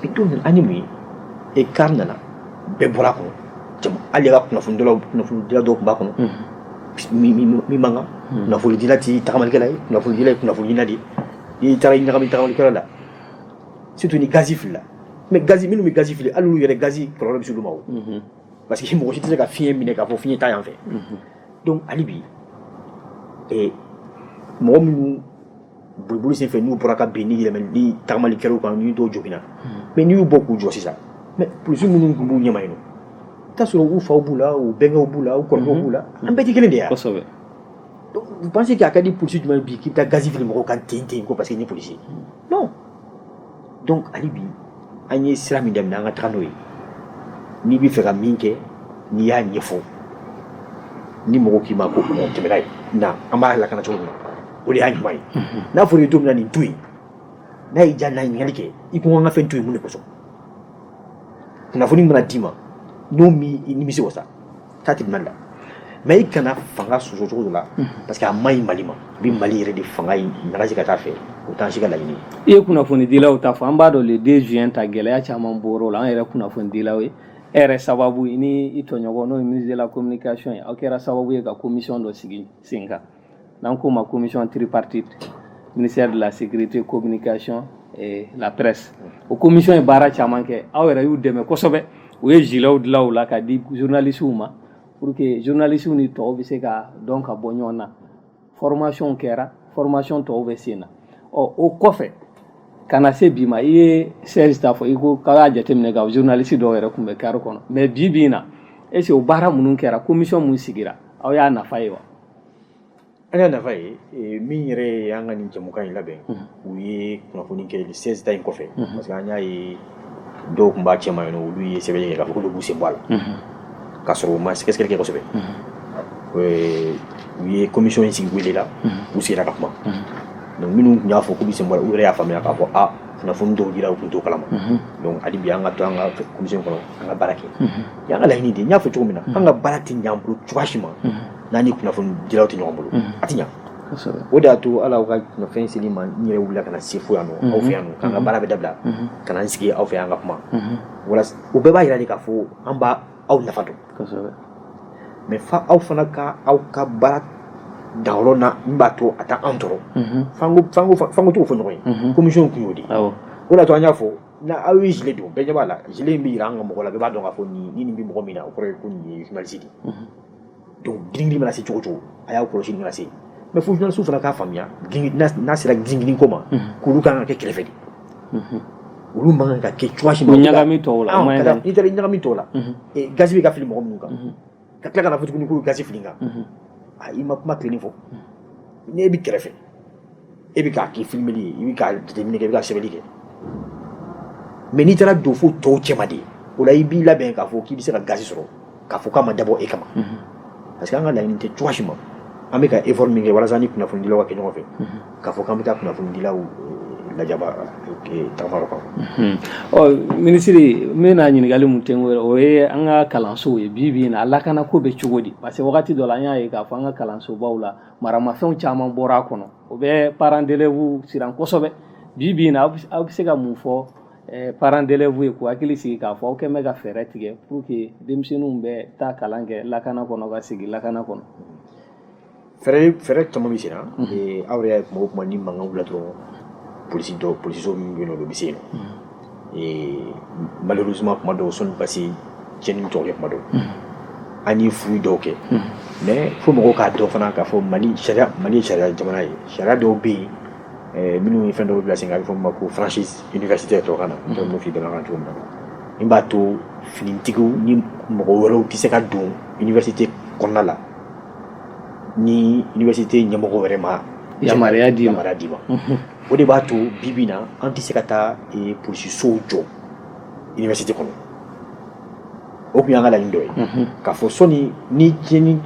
mais dɔw nana an ye mun ye car nana bɛɛ bɔra a kɔnɔ jama hali ka kunnafonidila kunnafonidila dɔw tun b'a kɔnɔ min man kan kunnafonidila tɛ tagamalikɛla ye kunnafonidila ye kunnafonidila de ye n'i taara i ɲagami tagamalikɛlaw la surtout ni gazi filila mais gazi minnu bɛ gazi fili hali olu yɛrɛ gazi kɔlɔlɔ bɛ s'olu ma o parce que mɔgɔ si tɛ se ka fiɲɛ minɛ k'a fɔ fiɲɛ taa yan fɛ donc hali bi mɔgɔ minnu boliboli sen fɛ n'u bɔra ka bin ni yɛlɛmɛ ni tagamali kɛr'u kan ni dɔw joginna mais n'i y'u bɔ k'u jɔ sisan mais polisi minnu tun b'u ɲɛma yen nɔ i t'a sɔrɔ u faw b'u la u bɛnkɛw b'u la u kɔrɔkɛw b'u la an bɛɛ tɛ kelen de ye Vous pensez k'a ka di polisi jumɛn ye bi k'i bɛ taa gazi fili mɔgɔw kan ten parce qu'il est policier Non. Donc, hali bi, an ye sira min daminɛ an ka taga n'o ye n'i bɛ fɛ ka min kɛ n'i y'a ɲɛfɔ ni mɔgɔw k'i ma ko tɛmɛna ye na an b'a lakana cogo min na o de y'a ɲuman ye n'a fɔra i ye don min na nin to yen n'a y'i diya n'a ye ɲininkali kɛ i ko an ka fɛn to yen mun de kosɔn kunnafoni mana d'i ma n'o m'i nimisi wasa taa tribunal la mais i kana fanga sɔsɔ cogo dɔ la parce que a man ɲi Mali ma a bɛ Mali yɛrɛ de fanga in nagasi ka taa a fɛ o t'an si ka laɲini i ye kunnafonidilaw ta fɔ an b'a dɔn le 2 juin ta gɛlɛya caman bɔr'o la an yɛrɛ kunnafonidilaw ye e yɛrɛ sababu i ni i tɔɲɔgɔn n'o ye ministre de la communication ye aw kɛra sababu ye ka commission dɔ sigi sen kan n'an k'o ma commission tripartite ministère de la sécurité communication et la presse o commission ye baara caman kɛ aw yɛrɛ y'u dɛmɛ kosɛbɛ u ye zilew dilan o la ka di journalistes ma pour que journalistes ni tɔw bɛ se ka dɔn ka bɔ ɲɔgɔn na formation kɛra formation tɔw bɛ sen na ɔ o kɔfɛ ka na se bi ma i ye Serge ta fɔ i ko k'a y'a jateminɛ ka journaliste dɔw yɛrɛ tun bɛ kari kɔnɔ mais bi bi in na est ce que o baara minnu kɛra commission min sigira aw y'a nafa ye wa An y'a nafa ye min yɛrɛ ye an ka nin jɛmukan in labɛn u ye kunnafoni kɛ seize ta in kɔfɛ parce que an y'a ye dɔw tun b'a cɛma yen nɔ olu ye sɛbɛn kɛ k'a fɔ k'olu b'u sen bɔ a la k'a sɔrɔ u ma sɛgɛsɛgɛli kɛ kosɛbɛ u ye commission in sigi wele la u sigira ka kuma donc minnu tun y'a fɔ k'u bɛ sen bɔ a la u yɛrɛ y'a faamuya k'a fɔ kunnafoni dɔw dira u tun t'o kalama donc hali bi an ka to an ka commission kɔnɔ an ka baara kɛ y'an ka laɲini de n y'a fɔ cogo min na an ka baara tɛ ɲɛ an bolo cogoya si ma n'an ni kunnafonidilaw tɛ ɲɔgɔn bolo a tɛ ɲɛ o de y'a to ala ka kunnafɛn seli ma n yɛrɛ wulila ka na se fo yan nɔ aw fɛ yan nɔ k'an ka baara bɛɛ dabila ka na n sigi aw fɛ yan ka kuma wala o bɛɛ b'a jira de k'a fɔ an b'aw nafa dɔn mais fo aw fana ka aw ka baara da yɔrɔ la min b'a to a t'an tɔɔrɔ fo an ka t'o fɔ ɲɔgɔn ye commission kun y'o de o de y'a to an y'a fɔ n'aw ye zile don bɛɛ ɲɛ b'a la zile in bɛ jira an ka mɔgɔw la bɛɛ b'a dɔn k'a fɔ nin nin bɛ mɔgɔ min na o kɔrɔ ye ko nin ye journaliste de donc girin mana se cogo o cogo a y'a kɔlɔsi nin kana se mais fo journalistes fana k'a faamuya n'a sera girin ko ma k'olu ka kan ka kɛ kɛrɛfɛ de olu man kan ka kɛ cogoya si ma ɲagami tɔw la n'i taara ɲagami tɔw la gaz bɛ ka fili mɔgɔ minnu kan ka tila ka n'a fɔ tuguni ko gaz fili kan i ma kuma tilenin fɔ n'e bɛ kɛrɛfɛ e bɛ k'i ka filimeli kɛ i bɛ ka jateminɛ kɛ i bɛ ka sɛbɛnni kɛ mais n'i taara don fo tɔw cɛma de o la i b'i labɛn k'a fɔ k'i bɛ se ka gaz sɔrɔ k'a fɔ k'a ma dabɔ e kama mhm. parce que an ka laɲini tɛ cogoya si ma an bɛ ka effort min kɛ walasa an ni kunnafonidilaw ka kɛ ɲɔgɔn fɛ mhm. k'a fɔ k'an bɛ taa kunnafonidilaw eh, lajaba eh, tagafara kan mhm. ɔ minisiri n bɛna ɲininkali min kɛ o ye an ka kalansow ye bi bi in na a lakana ko bɛ cogo di parce que wagati dɔ la an y'a ye k'a fɔ an ka kalansobaw la maramafɛnw caman bɔra a kɔnɔ o bɛ parents d'élèves siran kosɛbɛ bi bi in na aw bɛ se ka mun fɔ eh, parents d'élèves ye k'u hakili sigi k'a fɔ aw kɛlen bɛ ka fɛɛrɛ tigɛ pour que denmisɛnninw bɛ taa kalan kɛ lakana kɔnɔ ka segin lakana kɔnɔ fɛɛrɛ fɛɛrɛ caman bɛ senna aw yɛrɛ y'a ye kuma o kuma ni mankan wulila dɔrɔn polisi dɔw polisiso min bɛ yen nɔ o bɛ se yen nɔ malheureusement kuma dɔw sɔn basi cɛ ni jɔn kuma don an ye fouille dɔw kɛ mais fo mɔgɔw k'a dɔn fana k'a fɔ mali mali sariya jamana ye sariya dɔw bɛ yen eh, minnu ye fɛn dɔw bila sen a bɛ fɔ ma ko franchise universitaire tɔgɔ na n bɛ fi dɔn kan cogo min na min b'a to finitigiw ni mɔgɔ wɛrɛw tɛ se ka don université kɔnɔna la ni université ɲɛmɔgɔw yɛrɛ ma yamaruya di ma o de b'a to bi bi na an tɛ se ka taa eh, polisisow jɔ université kɔnɔ o tun y'an ka laɲini dɔ ye mhm. k'a fɔ sɔni ni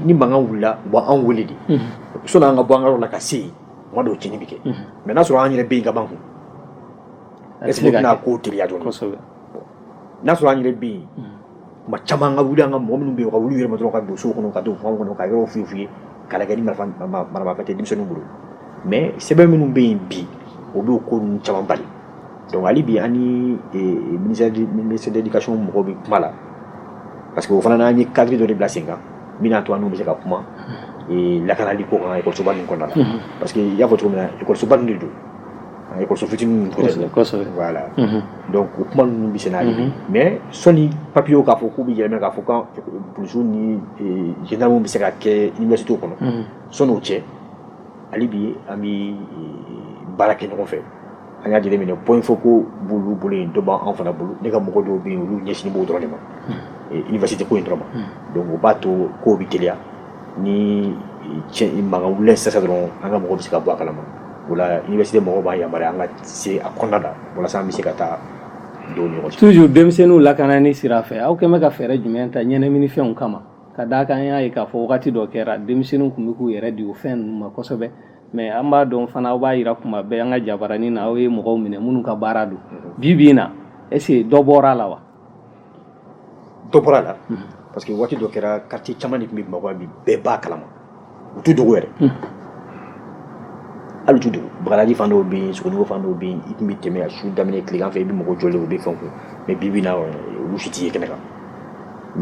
ni mankan wulila u b'an wele de mhm. sɔni an ka bɔ an ka yɔrɔ la ka se yen tuma dɔw tiɲɛni bɛ kɛ mhm. mais n'a sɔrɔ an yɛrɛ bɛ yen ka ban kun est ce que o tɛna ko teliya dɔɔni n'a sɔrɔ an yɛrɛ bɛ yen tuma caman an ka wuli an ka mɔgɔ minnu bɛ yen u ka wuli u yɛrɛ ma dɔrɔn ka don so kɔnɔ ka don fanw kɔnɔ ka yɔrɔw fouiller k'a lajɛ ni marifa maramafɛn tɛ denmisɛnninw bolo mais sɛbɛn minnu bɛ yen bi o b'o ko ninnu caman bali donc hali bi an ni e, e, ministère de ministère de l'éducation mɔgɔw bɛ kuma la parce que o fana n'an ye cadre dɔ de bila sen kan min n'a to an n'u bɛ se ka kuma e, lakanali ko kan ekɔlisoba ninnu kɔnɔna na parce que i y'a fɔ cogo min na ekɔlisoba ninnu de don An ye kɔso fitinin u kuma ninnu bɛ n'a ye mɛ sɔɔni papiyew k'a fɔ k'u bɛ yɛlɛmɛ k'a fɔsu ni jinɛina bɛ se ka kɛ i ɲɛso kɔnɔ sɔn cɛ ale bi an bɛ baara kɛ ɲɔgɔn fɛ an y'a lajɛlen minɛ bɔ in fɔ ko bolo bolo in dɔba anw fana bolo ne ka mɔgɔ dɔw bɛ yen olu ɲɛsin b'o dɔrɔn de ma i basi tɛ ko in dɔrɔn ma don b'a to ko bɛ gɛlɛya ni mankan wulila sisan dɔrɔn an ka mɔgɔ bɛ se ka bɔ a kalama o la université mɔgɔw b'an yamaruya an ka se a kɔnɔna la walasa an bɛ se ka taa don ɲɔgɔn toujours denmisɛnninw lakanani sira fɛ aw kɛlen bɛ ka fɛɛrɛ jumɛn ta ɲɛnaminifɛnw kama ka d'a kan an y'a ye k'a fɔ wagati dɔ kɛra denmisɛnninw tun bɛ k'u yɛrɛ di o fɛn ninnu ma kosɛbɛ mais an b'a dɔn fana aw b'a yira kuma bɛɛ an ka jabaranin na aw ye mɔgɔw minɛ minnu ka baara don bi bi in na est ce que dɔ bɔra la wa dɔ bɔra la parce que waati dɔ kɛra quartier caman de tun bɛ bamakɔ bi bɛɛ b'a kalama u t'u dogo yɛrɛ hali u t'u dogo bagadaji fan dɔw bɛ yen sogonikɔ fan dɔw bɛ yen i tun bɛ tɛmɛ a su daminɛ tilegan fɛ i bɛ mɔgɔ jɔlen u bɛ fɛn kun mais bi bi na olu si tɛ ye kɛnɛ kan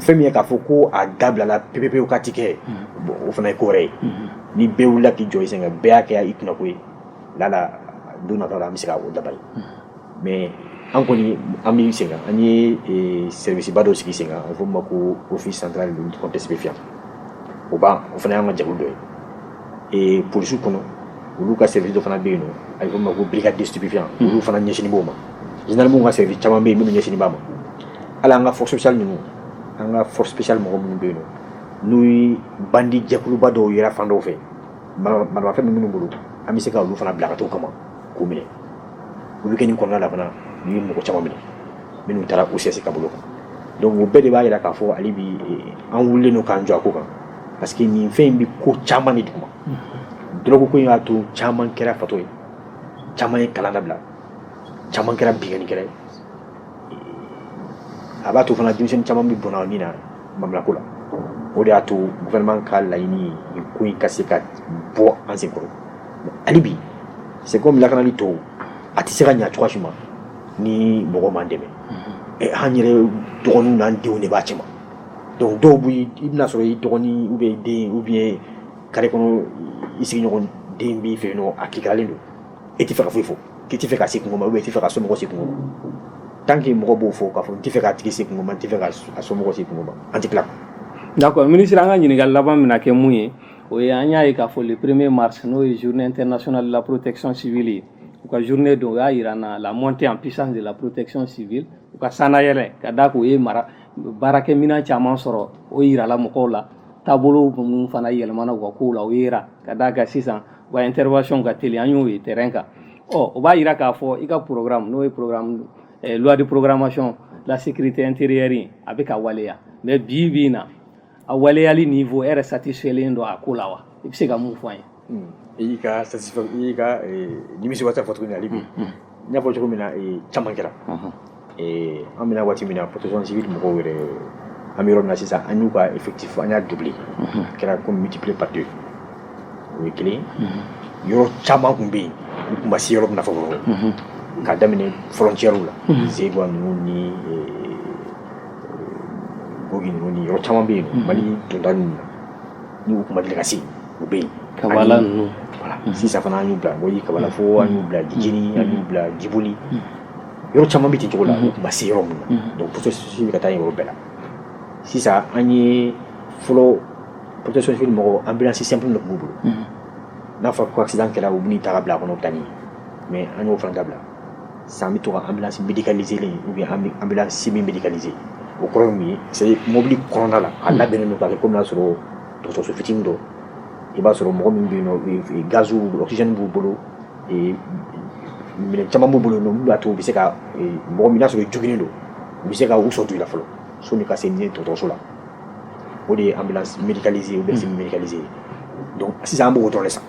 fɛn min ye k'a fɔ ko a dabilala pepepewu ka ti kɛ bon o fana ye ko wɛrɛ ye ni bɛɛ wulila k'i jɔ i sen kan bɛɛ y'a kɛ i kunko ye lala don nataw la an bɛ se ka o dabali mais an kɔni an bɛ sen kan an ye eh, service ba dɔ sigi sen kan a fɔ ma ko office central de lutte contre stupéfiant o b'an o fana y'an ka jɛkulu dɔ ye eh, polisiw kɔnɔ olu ka service dɔ fana bɛ yen nɔ a bɛ fɔ ma ko brigade de stupéfiant hmm. olu fana ɲɛsinnen b'o ma gendarmew ka service caman bɛ yen minnu ɲɛsinnen b'a ma hali an ka force spéciale ninnu an ka force spéciale mɔgɔ minnu bɛ yen nɔ n'u ye bandi jɛkuluba dɔw yera fan dɔw fɛ maramafɛn bɛ minnu bolo an bɛ se ka olu fana bila ka t'o kama k'u minɛ o bɛ kɛ nin kɔnɔna la fana n'u ye mɔgɔ caman minɛ minnu taara OCS ka bolo kan donc o bɛɛ de b'a jira k'a fɔ hali bi an wulilen don k'an jɔ a ko kan parce que nin fɛn in bɛ ko caman de duguma dɔrɔgu ko in y'a to caman kɛra fatɔ ye caman ye kalan dabila caman kɛra binkannikɛla ye a b'a to fana denmisɛnnin caman bɛ bɔnɛ a ni na manamanako la o de y'a to gouvernement ka laɲini ye nin ko in ka se ka bɔ an sen kɔrɔ hali bi c'est comme lakanali tɔw a tɛ se ka ɲa cogoya si ma ni mɔgɔ m'an dɛmɛ eh, an yɛrɛ dɔgɔninw n'an denw de b'a cɛma donc dɔw bɛ i bɛna sɔrɔ i dɔgɔnin ou bien i den ou bien carré kɔnɔ i sigiɲɔgɔn den b'i fɛ yen nɔ a kikalen don e tɛ fɛ ka foyi fɔ k'i tɛ fɛ ka se kunko ma ou bien i tɛ fɛ ka somɔgɔ se kunko ma tant que mɔgɔ b'o fɔ k'a fɔ n tɛ fɛ k'a tigi se kunko ma n tɛ fɛ ka a somɔgɔ se kunko ma an tɛ tila d'accord ministre an ka ɲininkali laban bɛna kɛ mun ye o ye an y'a ye k'a fɔ le premier mars n'o ye journée internationale de la protection civile ye u ka journée don u y'a jira an na la montée en puissance de la protection civile u ka sannayɛlɛ ka d'a kan u ye baarakɛminɛn caman sɔrɔ o jirala mɔgɔw la taabolo minnu fana yɛlɛmana u ka kow la o yera ka d'a kan sisan wa in terireyon ka teli an y'o ye tɛ kan ɔ o b'a jira k'a fɔ i ka porokkara n'o ye pwadi porokkaramasiyɔn lasikiri tɛ n terire a bɛ ka waleya mɛ bi bɛ na a waleyali nin fɔ e yɛrɛ sati sɛlen don a ko la wa i bɛ se ka mun fɔ ye i ka ka nimi se ka tɛ fɔ tuguni bi n y'a fɔ cogo min na caman kɛra an bɛ na waati min na protection civile mɔgɔw yɛrɛ an bɛ yɔrɔ min na sisan an y'u ka effectif an y'a doubler a kɛra comme multiplié par deux o ye kelen yɔrɔ caman tun bɛ yen u tun ma se yɔrɔ min na fɔlɔ k'a daminɛ frontièrew la zegwa ninnu ni gogi ninnu ni yɔrɔ caman bɛ yen mali donda ninnu na n'u tun ma deli ka se yen u bɛ yen kabala ninnu sisan fana an y'u bila bɔyi kabala fo an y'u bila jijini an y'u bila jiboli yɔrɔ caman bɛ ten cogo la u tun ma se yɔrɔ min na donc protection civile bɛ ka taa yen yɔrɔ bɛɛ la sisan an ye fɔlɔ protection civile mɔgɔ ambulance simple de tun b'u bolo n'a fɔra ko accident kɛra u bɛ n'i ta k'i bila a kɔnɔ u bɛ taa n'i ye mais an y'o fana dabila sisan an bɛ to ka ambulance médicalisée len ou bien ambulance semi médicalisée o kɔrɔ ye mun ye c'est à dire mobili kɔnɔna la a labɛnnen don k'a kɛ komi n'a sɔrɔ dɔgɔtɔrɔso fitinin dɔ i b'a sɔrɔ mɔgɔ min bɛ yen nɔ gaziw oxygène b'u bolo minɛn caman b'u bolo min b'a to u bɛ se ka mɔgɔ min n'a sɔrɔ joginnen don u bɛ se ka u sɔrɔ du la fɔlɔ sani ka se n'i dɔgɔtɔrɔso la o de ye ambulance médicalisée ou bien semi médicalisée ye donc sisan an b'o dɔrɔn de san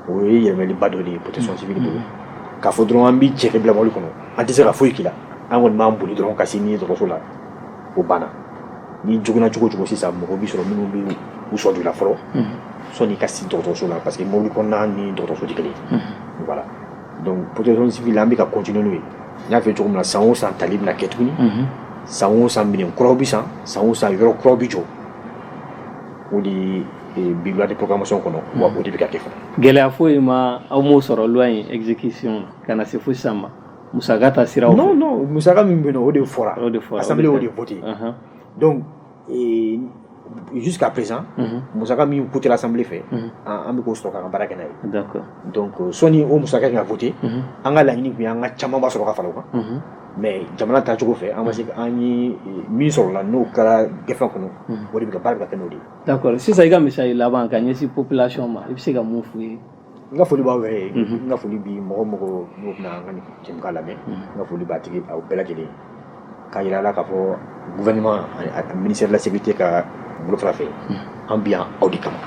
o ye yɛlɛmaliba dɔ de ye protection civile bolo k'a fɔ dɔrɔn an b'i cɛ k'i bila mɔbili kɔnɔ an tɛ se ka foyi k'i la an kɔni b'an boli dɔrɔn ka se n'i dɔgɔtɔrɔso la o banna n'i joginna cogo o cogo sisan mɔgɔ b'i sɔrɔ minnu bɛ u sɔrɔ i la fɔlɔ sɔni i ka se dɔgɔtɔrɔso la parce que mobili kɔnɔna ni dɔgɔtɔrɔso tɛ kelen voilà donc protection civile an bɛ ka continuer n'o ye n y'a fɔ cogo min na san o san tali bɛna kɛ tuguni san o san minɛn kuraw bɛ san san o san yɔrɔ kuraw bɛ jɔ o de bɛ loi de programmation kɔnɔ wa o de bɛ ka kɛ fana gɛlɛya foyi ma aw m'o sɔrɔ loi in exécution ka na se fo sisan ma Musa ta sira musa min bɛ o de fɔra o de fɔ a o de fote dɔnku ka pz musa min ku tɛla sanbi fɛ an bɛ' sɔrɔ ka baara kɛ ye sɔni o musa ka fote an ka laɲini an ka camanba sɔrɔ ka fara kan mɛ jamana ta cogo fɛ an ma se an ye min sɔrɔ la n'o kɛra gɛrɛ kɔnɔ o de bɛ baara kɛ n'o de ye sisan i ka misa laban ka ɲɛsin pplasi ma i bɛ se ka mun f' ye n ka foli b'aw yɛrɛ ye n ka foli bi mɔgɔ o mɔgɔ n'o bɛna an ka nin jɛmukan lamɛn n ka foli b'a tigi aw bɛɛ lajɛlen k'a yira a la k'a fɔ gouvernement ani ministère de la sécurité ka bolofara fɛ an bi yan aw de kama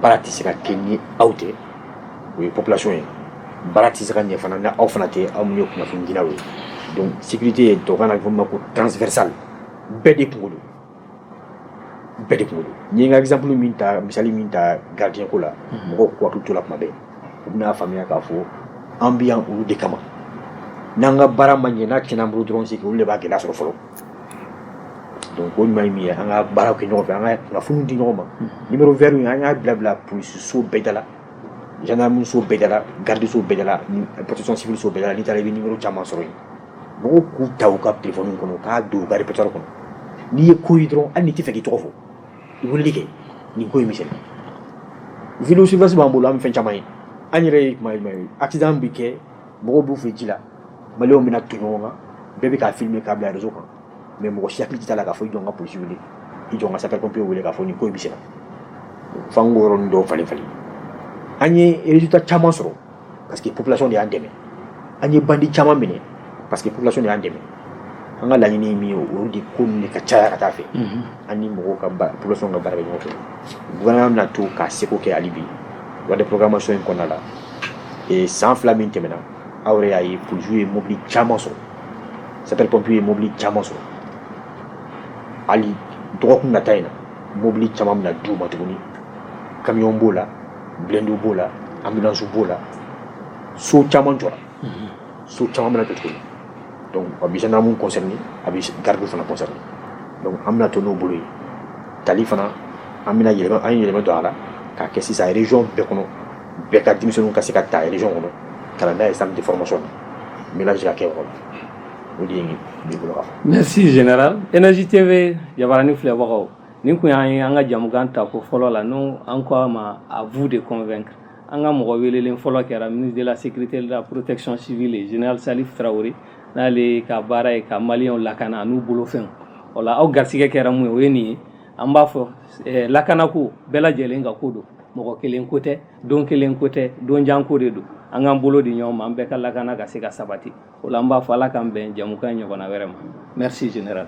baara tɛ se ka kɛ ni aw tɛ o ye population ye baara tɛ se ka ɲɛ fana ni aw fana tɛ aw minnu ye kunnafonidilaw ye donc sécurité ye tubabukan na a bɛ fɔ min ma ko transversale bɛɛ de kunko don bɛɛ de kunko don n ye n ka exemple min ta misali min ta gardien ko la mhm. mɔgɔw k'u hakili to la tuma bɛɛ u bɛna faamuya k'a fɔ an bɛ yan olu de kama n'an ka baara ma ɲɛ n'a tiɲɛna an bolo dɔrɔn c'est que olu de b'a gɛlɛya sɔrɔ fɔlɔ donc o ɲuman ye min ye an ka baaraw kɛ ɲɔgɔn fɛ an ka kunnafoniw di ɲɔgɔn ma mhm. numéro vert in an y'a bila bila polisi so bɛɛ da la gendarmerie so bɛɛ da la garde so bɛɛ da la protection civile so bɛɛ da la n'i taara i bɛ numéro caman sɔrɔ yen mɔgɔw k'u ta u ka téléphone kɔnɔ u k'a don u ka repertoire kɔnɔ n'i ye ko ye dɔrɔn hali n'i tɛ fɛ k'i tɔgɔ fɔ i weleli kɛ nin ko in bɛ senna vidéo surveillance b'an bolo an bɛ fɛn caman ye an yɛrɛ ye kuma jumɛn ye accident bɛ kɛ mɔgɔw b'u fɛ ji la maliyɛnw bɛna ton ɲɔgɔn kan bɛɛ bɛ k'a filmer k'a bila réseau kan mais mɔgɔ si hakili t'a la k'a fɔ i jɔ n ka polisi wele i jɔ n ka sapeur pompier wele k'a fɔ nin ko in bɛ senna f'an k'o yɔrɔnin dɔw falen falen an ye résultat caman sɔrɔ parce que population de y'an dɛmɛ an ye bandi caman minɛ parce que population de y'an dɛmɛ an ka laɲini ye min ye o de ko ninnu de ka caya ka taa fɛ an ni mɔgɔw ka ba- population ka baara kɛ ɲɔgɔn fɛ gouvernement bɛna to k'a seko kɛ hali bi loi de programmation in kɔnɔna la ee san fila min tɛmɛna aw yɛrɛ y'a ye polisiw ye mobili caman sɔrɔ sapeur pompier ye mobili caman sɔrɔ hali dɔgɔkun nata in na mobili caman bɛna d'u ma tuguni kamiyɔn b'o la blendu b'o la anbisu b'o la so caman jɔ so caman bɛ cogo don a bɛ namu kɔsɔn a bɛ garidu fana kɔsɔ an bɛna to n'o bolo ye tali fana an bɛna yɛlɛma an yɛlɛmamɛ don a la ka kɛ sisan rez bɛɛ kɔnɔ bɛɛ ka denmisɛnnin ka se ka taa rez kɔnɔ ka n'a ye san tɛ fɔlɔma sɔn min bɛ se ka kɛ o o de ye bolo mɛ si jɛnɛ eɛzji tɛ bɛ yabarani filɛbagaw Nin kun y'an ye an ka jamukan ta ko fɔlɔ la n'o an ko a ma à vous de convaincre an ka mɔgɔ welelen fɔlɔ kɛra ministre de la sécurité de la protection civile général Salif Traoré n'ale ka baara ye ka maliyɛnw lakana n'u bolofɛnw o la aw garisɛgɛ kɛra mun ye o ye nin ye an b'a fɔ lakanako bɛɛ lajɛlen ka ko don mɔgɔ kelen ko tɛ don kelen ko tɛ don jan ko de don an k'an bolo di ɲɔgɔn ma an bɛɛ ka lakana ka se ka sabati o la an b'a fɔ ala k'an bɛn jamukan ɲɔgɔnna wɛrɛ ma merci général